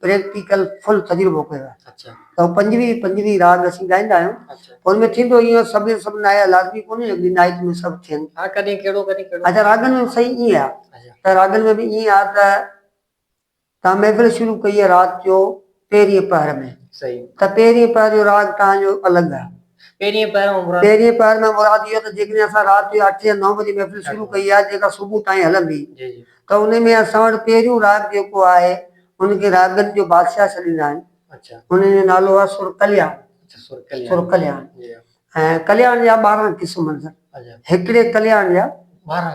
Speaker 2: پريڪٽيڪل فل تجربو ڪيو آهي اچا ته پنجويهه
Speaker 1: پنجويهه
Speaker 2: راڳ اسين ڳائيندا آهيون اچا ان ۾ ٿيندو
Speaker 1: ايئن سڀ
Speaker 2: سڀ نايا لازمي ڪونهي جو اڳي نائٽ ۾ سڀ ٿين ها ڪڏهن ڪهڙو ڪڏهن ڪهڙو
Speaker 1: اچا راڳن ۾ صحيح ائين
Speaker 2: آهي اچا ته راڳن ۾ به
Speaker 1: ائين
Speaker 2: آهي ته تان محفل شروع ڪئي آهي رات جو پهرين پهر ۾ صحيح ته پهرين
Speaker 1: پهر
Speaker 2: جو راڳ تان جو الڳ آهي پهرين پهر مان
Speaker 1: مراد پهرين پهر مان مراد
Speaker 2: اهو ته جيڪڏهن اسان رات جو اٺ يا نو بجي محفل شروع ڪئي آهي جيڪا صبح تائين هلندي جي جي ته ان
Speaker 1: ۾ اسان وٽ
Speaker 2: پهريون راڳ جيڪو آهي ان کي راڳن جو بادشاهه سڏيندا آهن ان جو
Speaker 1: نالو آهي
Speaker 2: سر ڪلياڻ سر
Speaker 1: ڪلياڻ ۽ ڪلياڻ
Speaker 2: جا ٻارهن قسم هڪڙي
Speaker 1: ڪلياڻ جا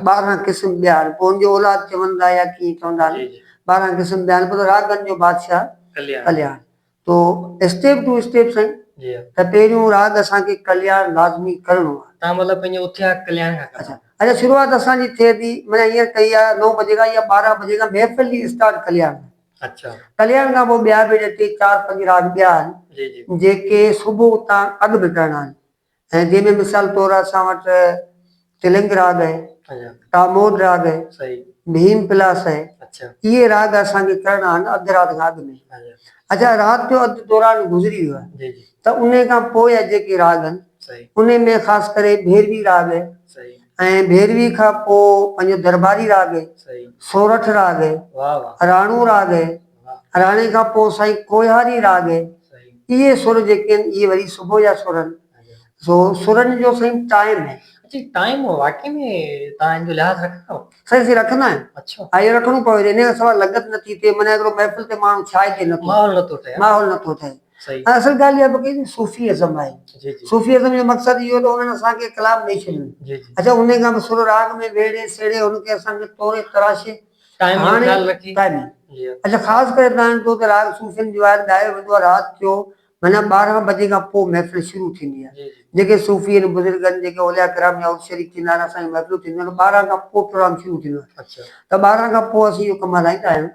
Speaker 2: ٻارهن
Speaker 1: قسم ٻيا
Speaker 2: آهن پوء ان جو اولاد چوندا يا ڪيئن چوندا آهن ٻارهن قسم
Speaker 1: ٻيا آهن پر
Speaker 2: راڳن جو بادشاهه ڪلياڻ
Speaker 1: تو
Speaker 2: اسٽيپ ٽو اسٽيپ سائين. جي. ته پهريون
Speaker 1: راڳ
Speaker 2: اسان کي ڪلياڻ لازمي ڪرڻو آ. تان مطلب پنهنجي اٿيا
Speaker 1: ڪلياڻ کان ڪرڻو. اڇا اڄ شروعات
Speaker 2: اسان
Speaker 1: جي
Speaker 2: ٿئي ٿي معنيٰ هينئر ڪئي آ نو بجي کان يا ٻارهن بجي کان محفل جي اسٽارٽ ڪلياڻ کان. اڇا.
Speaker 1: ڪلياڻ کان پوء ٻيا
Speaker 2: به اڄ ٽي چار پنج راڳ ٻيا آهن. جي جي. جيڪي
Speaker 1: صبح
Speaker 2: اتان اڳ به ڪرڻا آهن. ۽ جنهن ۾ مثال طور اسان وٽ تلنگ راڳ آهي، ٽامور
Speaker 1: راڳ آهي،
Speaker 2: ڀيم
Speaker 1: پلاس
Speaker 2: آهي، اهي راڳ
Speaker 1: اسان کي
Speaker 2: ڪرڻا آهن اڌ رات کان اڳ ۾. اڇا رات
Speaker 1: جو اڌ
Speaker 2: دوران گذري ويو آهي ته انهي کان
Speaker 1: پوء
Speaker 2: جا جيڪي راڳ آهن انهي ۾
Speaker 1: خاص ڪري
Speaker 2: ڀيروي راڳ آهي ۽
Speaker 1: ڀيروي
Speaker 2: کان پوء پنهنجو درٻاري راڳ آهي، سورٺ
Speaker 1: راڳ آهي،
Speaker 2: راڻو
Speaker 1: راڳ آهي.
Speaker 2: راڻي کان
Speaker 1: پوء سائين
Speaker 2: ڪوهياري راڳ اهي سر
Speaker 1: جيڪي آهن
Speaker 2: اهي وري صبح جا سر آهن سو سرن جو سائين ٽائيم آهي. اچي ٽائيم
Speaker 1: واقعي ۾ تان ان جو لحاظ رکندا آهيو. سائين اسين رکندا آهيون.
Speaker 2: اڇا. ها اهو رکڻو پوي
Speaker 1: ٿي ان کان
Speaker 2: سواء لڳت نه ٿي ٿئي معنيٰ هڪڙو محفل تي ماڻهو ڇا اچي نه ٿو. ماحول نه ٿو ٺهي. ماحول نه
Speaker 1: ٿو ٺهي. صحيح.
Speaker 2: ۽ اصل ڳالهه
Speaker 1: اها به ڪئي
Speaker 2: صوفي ازم آهي. جي جي. صوفي ازم جو
Speaker 1: مقصد اهو
Speaker 2: ته انهن اسان کي ڪلام ڏئي ڇڏيو. جي جي. اچا انهي
Speaker 1: کان به سر
Speaker 2: راڳ ۾ ويڙهي سيڙهي ان کي اسان کي توري تراشي هاڻي
Speaker 1: قائمي اچ
Speaker 2: خاص
Speaker 1: ڪري تنهن
Speaker 2: جو ته راڳ صوفين جو آهي ته ڏهائي ويندو آهي رات جو معنيٰ ٻارهن بجي کان پوء محفل شروع ٿيندي آهي جيڪي صوفي ۽ بزرگن جيڪي اولياء ڪرام جا عرس شريف ٿيندا آهن اسان جون محفلون ٿينديون آهن ٻارهن کان پوء پروگرام شروع ٿيندو آهي ته ٻارهن کان
Speaker 1: پوء
Speaker 2: اسين اهو ڪم هلائيندا آهيون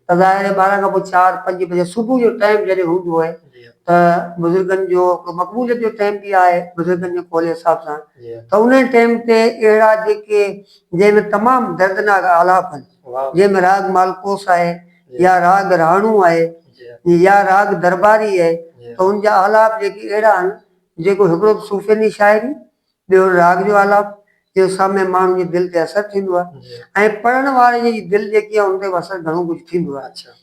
Speaker 2: ته ظاهر آهي
Speaker 1: ٻارهن کان پوء
Speaker 2: چار پنج بجي صبح جو ٽائيم جڏهن هوندو آهي ته
Speaker 1: بزرگن
Speaker 2: جو هڪڙو مقبوليت جو ٽائيم به آهي بزرگن جي قول حساب سان ته انهي ٽائيم
Speaker 1: تي
Speaker 2: اهڙا جيڪي جنهن ۾ تمام دردناڪ آلاپ آهن، جنهن ۾ راڳ
Speaker 1: مالڪوس
Speaker 2: آهي يا راڳ
Speaker 1: رهاڻو
Speaker 2: آهي يا راڳ
Speaker 1: درباري
Speaker 2: آهي ته ان جا آلاپ
Speaker 1: جيڪي
Speaker 2: اهڙا آهن جيڪو هڪڙو ته صوفيني شاعري ٻيو وري راڳ جو آلاپ جنهن سامي ماڻهو جي دل تي اثر ٿيندو آهي ۽ پڙهڻ
Speaker 1: واري
Speaker 2: جي دل جيڪي آهي ان تي به اثر گهڻو ڪجهه ٿيندو آهي.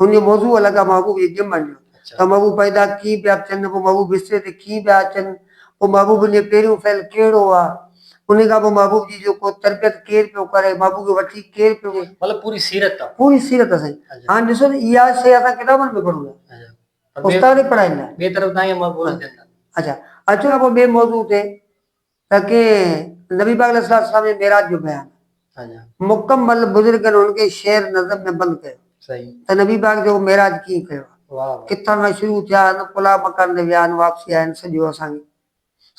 Speaker 2: هن
Speaker 1: جو موضوع
Speaker 2: الڳ آ محبوب جي ڄمن جو ته محبوب پيدا
Speaker 1: ڪيئن
Speaker 2: پيا ٿين پوء محبوب بستري تي ڪيئن پيا اچن پوء محبوبن جي پهريون فعل ڪهڙو آ انهي کان پوء محبوب جي جو ڪو تربيت ڪير پيو ڪري محبوب کي وٺي ڪير پيو وڃي مطلب پوري سيرت آ
Speaker 1: پوري سيرت آ سائين
Speaker 2: هاڻ ڏسو ته اها
Speaker 1: شيء
Speaker 2: اسان ڪتابن ۾ پڙهون ٿا استاد
Speaker 1: پڙهائيندا
Speaker 2: ٻئي طرف تائين محبوب
Speaker 1: اچن ٿا اچا
Speaker 2: اچو ته پوء ٻئي موضوع تي. ته ڪي نبي پاڪ عليه السلام جي معراج جو بيان
Speaker 1: مڪمل بزرگن
Speaker 2: ان کي شعر نظم ۾ بند ڪيو ته نبي پاڪ
Speaker 1: جو
Speaker 2: معراج ڪيئن ڪيو ها ڪٿان کان
Speaker 1: شروع ٿيا
Speaker 2: ان قلعه مڪان تي ويا آهن واپسي آيا آهن سڄو اسان کي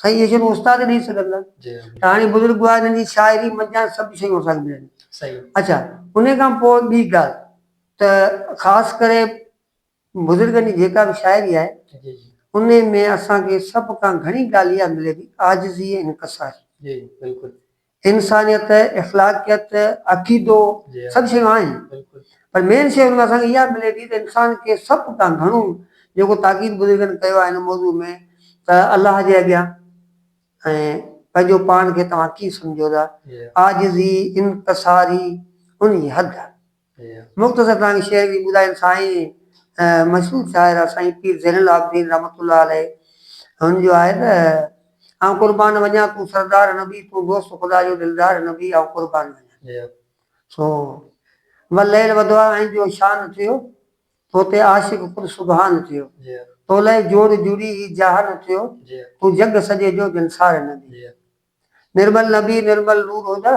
Speaker 2: سائين اهي شيون استاد ڏئي سگهندا ته هاڻي
Speaker 1: بزرگ هئا
Speaker 2: انهن جي شاعري منجهان سڀ شيون اسان کي ملن ٿيون اڇا
Speaker 1: انهي
Speaker 2: کان پوء ٻي ڳالهه ته خاص ڪري بزرگن جي جيڪا به شاعري آهي انهي
Speaker 1: ۾ اسان
Speaker 2: کي سڀ کان گهڻي ڳالهه اها ملي ٿي عاجزي ۽ انڪساري.
Speaker 1: انسانيت،
Speaker 2: اخلاقيت، عقيدو سڀ شيون
Speaker 1: آهن
Speaker 2: پر مين
Speaker 1: شي ان ۾
Speaker 2: اسان کي اها ملي ٿي ته انسان کي سڀ کان گهڻو جيڪو تاڪيد بزرگن ڪيو آهي ان موضوع ۾ ته الله جي اڳيان ۽ پنهنجو پاڻ کي توهان ڪيئن سمجهو ٿا عاجزي، انڪساري انهي حد مختصر ڪهاڻي
Speaker 1: شيئر ڪئي
Speaker 2: ٻڌايم سائين مشهور شاعر آ سائين پير زين العابدين رحمة الله عليه هن جو آهي ته آئون قربان وڃان تون سردار نبي تون دوست خدا جو دلدار نبي آئون قربان وڃان سو والليل وضحا ۽ جو شان ٿيو تو تي عاشق خود سبحان ٿيو تو لئه
Speaker 1: جوڙ
Speaker 2: جڙي هي جهان ٿيو تون جڳ
Speaker 1: سڄي
Speaker 2: جو جنسار نبي
Speaker 1: نرمل
Speaker 2: نبي نرمل نور هدا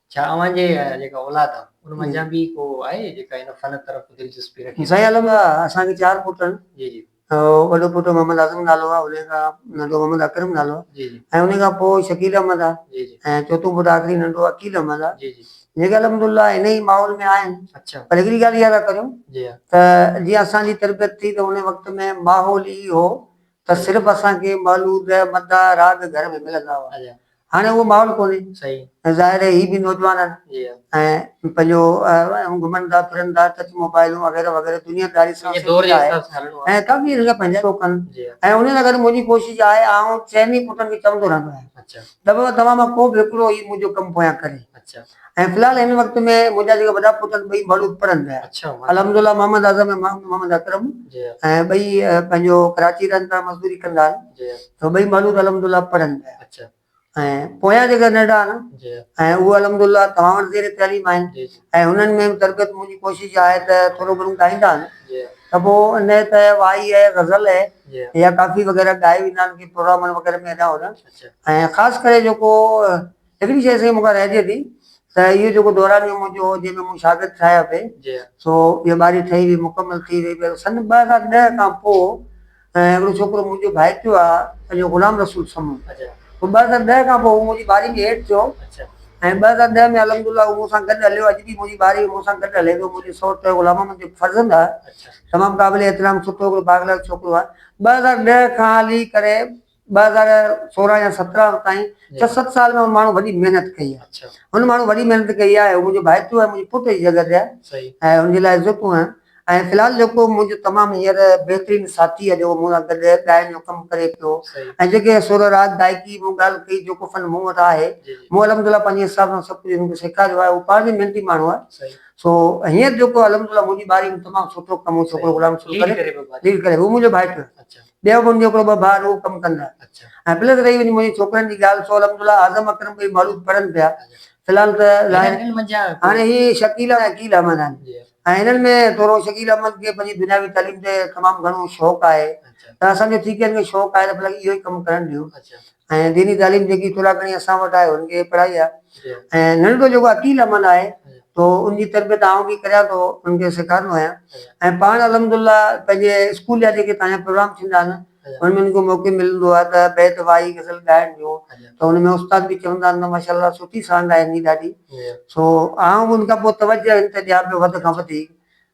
Speaker 1: ڇا اوهان جي جيڪا اولاد آ ان منجهان به ڪو آهي جيڪا هن فن طرف دلچسپي رکي؟ سائين عالم آ اسان
Speaker 2: کي چار پٽ آهن جي جي.
Speaker 1: وڏو پٽ محمد
Speaker 2: اعظم نالو آ انهي کان ننڍو محمد اڪرم نالو آ جي جي. ۽ انهي کان پوء
Speaker 1: شڪيل
Speaker 2: احمد آ جي جي. ۽ چوٿون پٽ
Speaker 1: آخري
Speaker 2: ننڍو عقيل احمد آ جي جي. جيڪي الحمد
Speaker 1: الله
Speaker 2: انهي ماحول ۾ آهن اڇا. پر هڪڙي ڳالهه اها
Speaker 1: ٿا ڪريون
Speaker 2: جي ها. ته
Speaker 1: جيئن اسان
Speaker 2: جي تربيت ٿي ته انهي وقت ۾ ماحول ئي هو ته صرف اسان کي مولود، مداح، راڳ گهر ۾ ملندا هئا. هاڻي اهو
Speaker 1: ماحول
Speaker 2: ڪونهي ته ظاهر
Speaker 1: آهي هي به
Speaker 2: نوجوان آهن ۽
Speaker 1: پنهنجو
Speaker 2: گهمن ٿا ڦرن ٿا ٽچ موبائلون وغيره وغيره دنيا داري سان سنڌي لاء ۽
Speaker 1: ڪافي ان جا پنهنجا لوڪ
Speaker 2: آهن ۽ انهي سان گڏ
Speaker 1: منهنجي ڪوشش
Speaker 2: آهي ۽ آئون چئني پٽن کي چوندو رهندو آهيان ته بابا توهان
Speaker 1: مان ڪو
Speaker 2: به هڪڙو هي منهنجو ڪم پويان ڪري ۽ في الحال
Speaker 1: هن وقت
Speaker 2: ۾ منهنجا جيڪي وڏا پٽ آهن ٻئي ماڙهو پڙهن پيا الحمد الله
Speaker 1: محمد
Speaker 2: اعظم ۽ محمد اڪرم ۽ ٻئي
Speaker 1: پنهنجو
Speaker 2: ڪراچي رهن پيا مزدوري ڪندا آهن ٻئي ماڙهو
Speaker 1: الحمد
Speaker 2: الله پڙهن پيا ۽
Speaker 1: پويان
Speaker 2: جيڪا ننڍا آهن ۽ اهي
Speaker 1: الحمد الله
Speaker 2: توهان وٽ زير تعليم آهن ۽ هنن ۾ به
Speaker 1: تربيت
Speaker 2: منهنجي ڪوشش آهي ته ٿورو گهڻو ڳائيندا آهن ته پوء
Speaker 1: نه ته
Speaker 2: وائي اهي غزل اهي يا ڪافي
Speaker 1: وغيره ڳائي
Speaker 2: ويندا آهن ڪي پروگرامن وغيره ۾ هيڏانهن هوڏانهن ۽ خاص
Speaker 1: ڪري
Speaker 2: جيڪو هڪڙي شيء سائين مون کان رهجي ٿي ته اهو جيڪو دورانيو منهنجو هو جنهن ۾ مون شاگرد ٺاهيا پئي سو اها
Speaker 1: ٻاري ٺهي
Speaker 2: وئي مڪمل ٿي وئي پر سن ٻه هزار ڏهه کان پوء هڪڙو ڇوڪرو منهنجو ڀائيٽيو آ پنهنجو غلام رسول سمون ٻه هزار
Speaker 1: ڏهه کان
Speaker 2: پوء هو منهنجي ٻاري ۾ ايڊ ٿيو ۽ ٻه
Speaker 1: هزار ڏهه
Speaker 2: ۾ الحمد الله هو مون سان گڏ هليو اڄ به منهنجي ٻاري مون سان گڏ هلي ٿو منهنجو سئوٽ آهي غلام محمد جو فرزند آ تمام قابل
Speaker 1: احترام
Speaker 2: سٺو هڪڙو بااخلاق ڇوڪرو آ ٻه هزار ڏهه کان هلي ڪري ٻه هزار سورهن يا سترهن تائين ڇهه ست سال ۾ ماڻهو وڏي محنت ڪئي آهي هن ماڻهو وڏي
Speaker 1: محنت
Speaker 2: ڪئي آهي هو منهنجو ڀائيٽيو آهي منهنجي پٽ جي جڳهه تي آهي ۽ هن جي لاء
Speaker 1: عزتون
Speaker 2: آهن ۽ في الحال جيڪو منهنجو تمام هينئر بهترين ساٿي آهي جيڪو مون سان گڏ ڳائڻ جو ڪم ڪري پيو ۽ جيڪي سر
Speaker 1: راڳ
Speaker 2: گائڪي مون ڳالهه ڪئي جيڪو فن مون وٽ آهي مون الحمدلله پنهنجي
Speaker 1: حساب
Speaker 2: سان سڀ ڪجهه هن کي سيکاريو آهي هو پاڻ به محنتي ماڻهو آهي سو
Speaker 1: هينئر
Speaker 2: جيڪو الحمدلله منهنجي ٻاري ۾ تمام سٺو ڪم هو ڇوڪرو غلام رسول ڪري ليڊ ڪري پيو
Speaker 1: ليڊ ڪري
Speaker 2: هو
Speaker 1: منهنجو ڀائيٽيو آهي
Speaker 2: ٻيو منهنجو هڪڙو
Speaker 1: ٻه ڀاء
Speaker 2: رهو ڪم ڪندا ۽ پلس رهي
Speaker 1: وڃي منهنجي
Speaker 2: ڇوڪرن جي ڳالهه سو الحمد الله اعظم اڪرم ٻئي مولود پڙهن پيا في الحال ته هاڻي هي شڪيل ۽ عقيل احمد آهن ۽ هنن ۾ ٿورو شڪيل احمد کي پنهنجي دنياوي تعليم تي تمام گهڻو شوق آهي ته اسان جو ٿي
Speaker 1: ڪين کي
Speaker 2: شوق آهي ته پلس اهو ئي ڪم ڪرڻ ڏيو ۽ ديني
Speaker 1: تعليم جيڪي
Speaker 2: ٿورا گهڻي اسان وٽ آهي ان کي پڙهائي آهي ۽ ننڍڙو
Speaker 1: جيڪو
Speaker 2: عقيل عمل آهي تو ان جي تربيت آئون به ڪريان ٿو ان کي سيکارندو آهيان ۽ پاڻ الحمدالله پنهنجي اسڪول جا جيڪي تانيا پروگرام ٿيندا آهن ان ۾ ان کي موقعو ملندو آهي ته بيت وائي غزل ڳائڻ جو ته ان ۾ استاد به چوندا آهن ته ماشاءالله سٺي سانگ آهي هن جي ڏاڍي سو آئون به ان کان پوء توجه ان تي ڏيان پيو وڌ کان وڌيڪ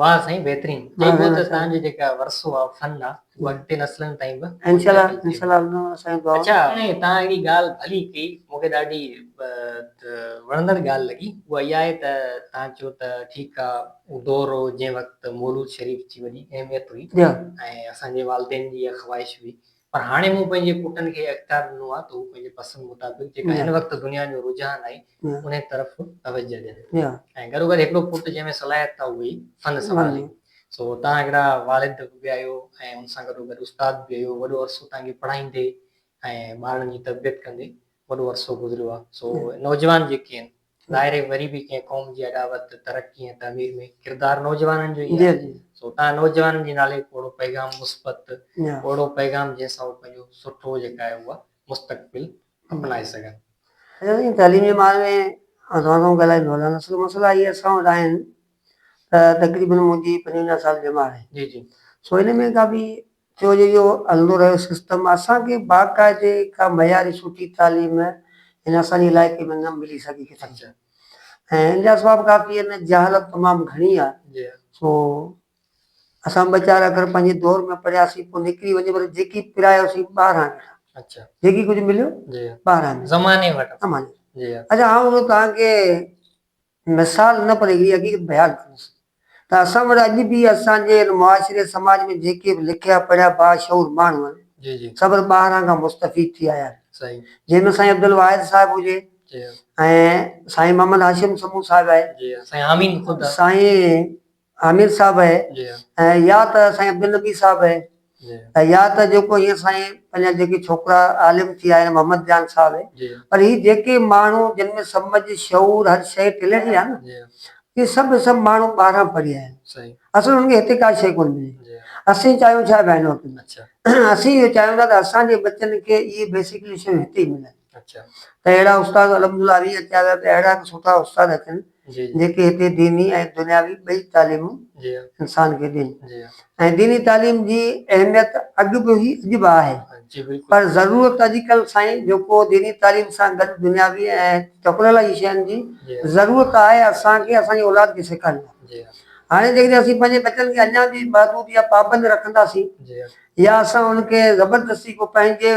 Speaker 1: واھ سائين بهترين چئبو ته توهان جو جيڪا ورثو آ فن آ اهو اڳتي نسلن تائين به پهچائي
Speaker 2: وڃجي اڇا هاڻي توهان هڪڙي
Speaker 1: ڳالھ ڀلي ڪئي مون کي ڏاڍي وڻندڙ ڳالھ لڳي اها اها آهي ته توهان چيو ته ٺيڪ آ اهو دور هو جنهن وقت مولود شريف جي وڏي اهميت هئي ۽ اسان جي والدين جي اها خواهش هئي پر هاڻي مون پنهنجي پٽن کي هي اختيار ڏنو آهي ته هو پنهنجي پسند مطابق جيڪا هن وقت دنيا جو رجحان آهي انهي طرف توجهه ڏين ۽ گڏوگڏ هڪڙو پٽ جنهن ۾ صلاحيت آهي اهوئي فن سنڀالي سو توهان هڪڙا والد به آهيو ۽ ان سان گڏوگڏ استاد به آهيو وڏو عرصو توهان کي پڙهائيندي ۽ ٻارڙن جي تربيت ڪندي وڏو عرصو گذريو آهي سو نوجوان جيڪي آهن ظاهر آهي وري به ڪنهن قوم جي اڏاوت، ترقي ۽ تعمير ۾ ڪردار نوجوانن جو ئي آهي، سو تان نوجوانن جي نالي پوڙهو پيغام مثبت، پوڙهو پيغام جنهن سان هو پنهنجو سٺو جيڪا آهي اها مستقبل اپنائي سگهن. ايئن ئي تعليم جي ماهر ۾
Speaker 2: آئون توهان سان ڳالهائي ٿو هلان، اصل مسئلا اهي اسان وٽ آهن ته تقريبن منهنجي پنجونجاهه سال جي عمر آهي، سو ان
Speaker 1: ۾ ڪا به
Speaker 2: ٿيو جو اهو هلندو رهيو سسٽم اسان کي باقاعدي ڪا معياري سٺي تعليم هن اسان جي علائقي ۾ نه ملي سگهي ڪٿي ۽ ان جا اسباب ڪافي آهن جهالت تمام گهڻي آهي سو اسان ٻه چار اکر پنهنجي دور ۾ پڙهياسين پوء نڪري وڃي پر جيڪي پرايوسين ٻاهران ڏٺا جيڪي
Speaker 1: ڪجهه مليو
Speaker 2: ٻاهران ڏٺا زماني وٽان
Speaker 1: اچا
Speaker 2: آئون هون توهان کي مثال نه پر اهڙي حقيقت بيان ڪندس ته اسان وٽ اڄ به اسان جي هن معاشري سماج ۾ جيڪي به لکيا پڙهيا باشعور ماڻهو آهن سڀر ٻاهران کان مستفيد ٿي آيا آهن جنهن ۾ سائين عبدالواحد صاحب هجي ۽ سائين محمد هاشم سمون صاحب آهي سائين عامر صاحب اهي ۽ يا ته سائين عبدالنبي صاحب اهي ۽ يا ته جيڪو هينئر سائين پنهنجا جيڪي ڇوڪرا عالم ٿي آيا محمد جان صاحب اهي پر هي جيڪي ماڻهو جن ۾ سمجھ شعور هر شيء ٽلي وئي آهي نه اهي سڀ به سڀ ماڻهو ٻاهران پڙهيا آهن اصل انهن کي هتي ڪا شيء ڪونه ملي اسين چاهيون ڇا بينوقت ۾ اسين اهو چاهيون ٿا ته اسان جي ٻچن کي اهي بيسڪلي شيون هتي ئي ملن. ته اهڙا استاد الحمد الله علي اچيا ويا ته اهڙا به سٺا استاد اچن جيڪي هتي ديني ۽ دنياوي ٻئي تعليمون انسان کي ڏين ۽ ديني تعليم جي اهميت اڳ به هئي اڄ به آهي پر ضرورت اڄڪلهه سائين جيڪو ديني تعليم سان گڏ دنياوي ۽ چڪلل جي شين جي ضرورت آهي اسان کي اسان جي اولاد کي سيکارڻي آهي هاڻي جيڪڏهن اسين پنهنجي ٻچن کي اڃا به محدود يا پابند رکنداسين يا اسان ان کي زبردستي ڪو پنهنجي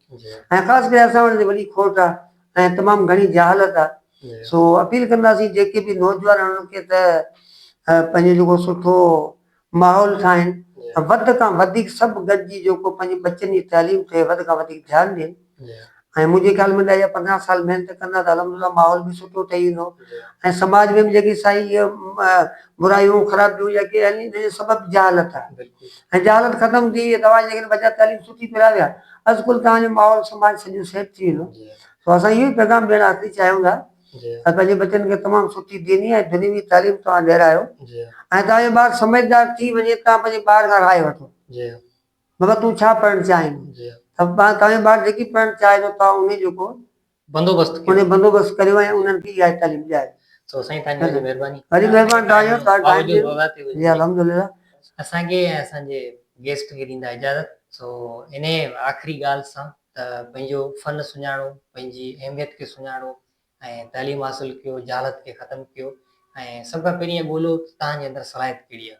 Speaker 2: ۽ خاص ڪري
Speaker 1: اسان وٽ جي وڏي
Speaker 2: کوٽ آ ۽ تمام گهڻي جهالت آ سو اپيل
Speaker 1: ڪنداسين
Speaker 2: جيڪي به نوجوان انهن کي ته پنهنجو جيڪو سٺو ماحول ٺاهين ۽ وڌ کان
Speaker 1: وڌيڪ سڀ
Speaker 2: گڏجي جيڪو پنهنجي ٻچن جي تعليم تي وڌ کان وڌيڪ ڌيان ڏين ۽ منهنجي
Speaker 1: خيال ۾ ڏهه
Speaker 2: يا پندرهن سال محنت ڪندا ته الحمدلله ماحول به سٺو ٺهي ويندو ۽ سماج
Speaker 1: ۾ به جيڪي
Speaker 2: سائين اهي برائيون خرابيون يا ڪي آهن انهن جو سبب جهالت آ خجالت
Speaker 1: ختم
Speaker 2: ٿي وئي توهان جيڪڏهن ٻچا تعليم سٺي پراويا از ڪل توهان جو ماحول سماج سڄو سيٽ ٿي ويندو سو اسان اهو ئي
Speaker 1: پيغام
Speaker 2: ڏيڻ آخري چاهيون ٿا ته پنهنجي ٻچن
Speaker 1: کي تمام
Speaker 2: سٺي ديني ۽ دنيوي تعليم توهان ڏيرايو ۽ توهان جو
Speaker 1: ٻار سمجهدار
Speaker 2: ٿي وڃي توهان پنهنجي ٻار کان راء وٺو
Speaker 1: بابا تون ڇا
Speaker 2: پڙهڻ چاهين ٿو
Speaker 1: توهان جو ٻار
Speaker 2: جيڪي پڙهڻ چاهي ٿو توهان انهي جو ڪو بندوبست ڪيو
Speaker 1: انهن بندوبست
Speaker 2: ڪريو ۽
Speaker 1: انهن
Speaker 2: کي اها تعليم ڏياري. سو سائين تهان جي وڏي
Speaker 1: مهرباني. وڏي مهرباني
Speaker 2: تهان جو تهان قائم جي جي
Speaker 1: الحمدلله. اسان
Speaker 2: کي ۽
Speaker 1: اسان جي گيسٽ کي ڏيندا اجازت سو انهي آخري ڳالهه سان ته پنهنجو فن سڃاڻو پنهنجي اهميت کي سڃاڻو ۽ تعليم حاصل ڪيو جهالت کي ختم ڪيو ۽ سڀ کان پهرين اهي ڳولهيو ته تهان جي اندر صلاحيت ڪهڙي آهي.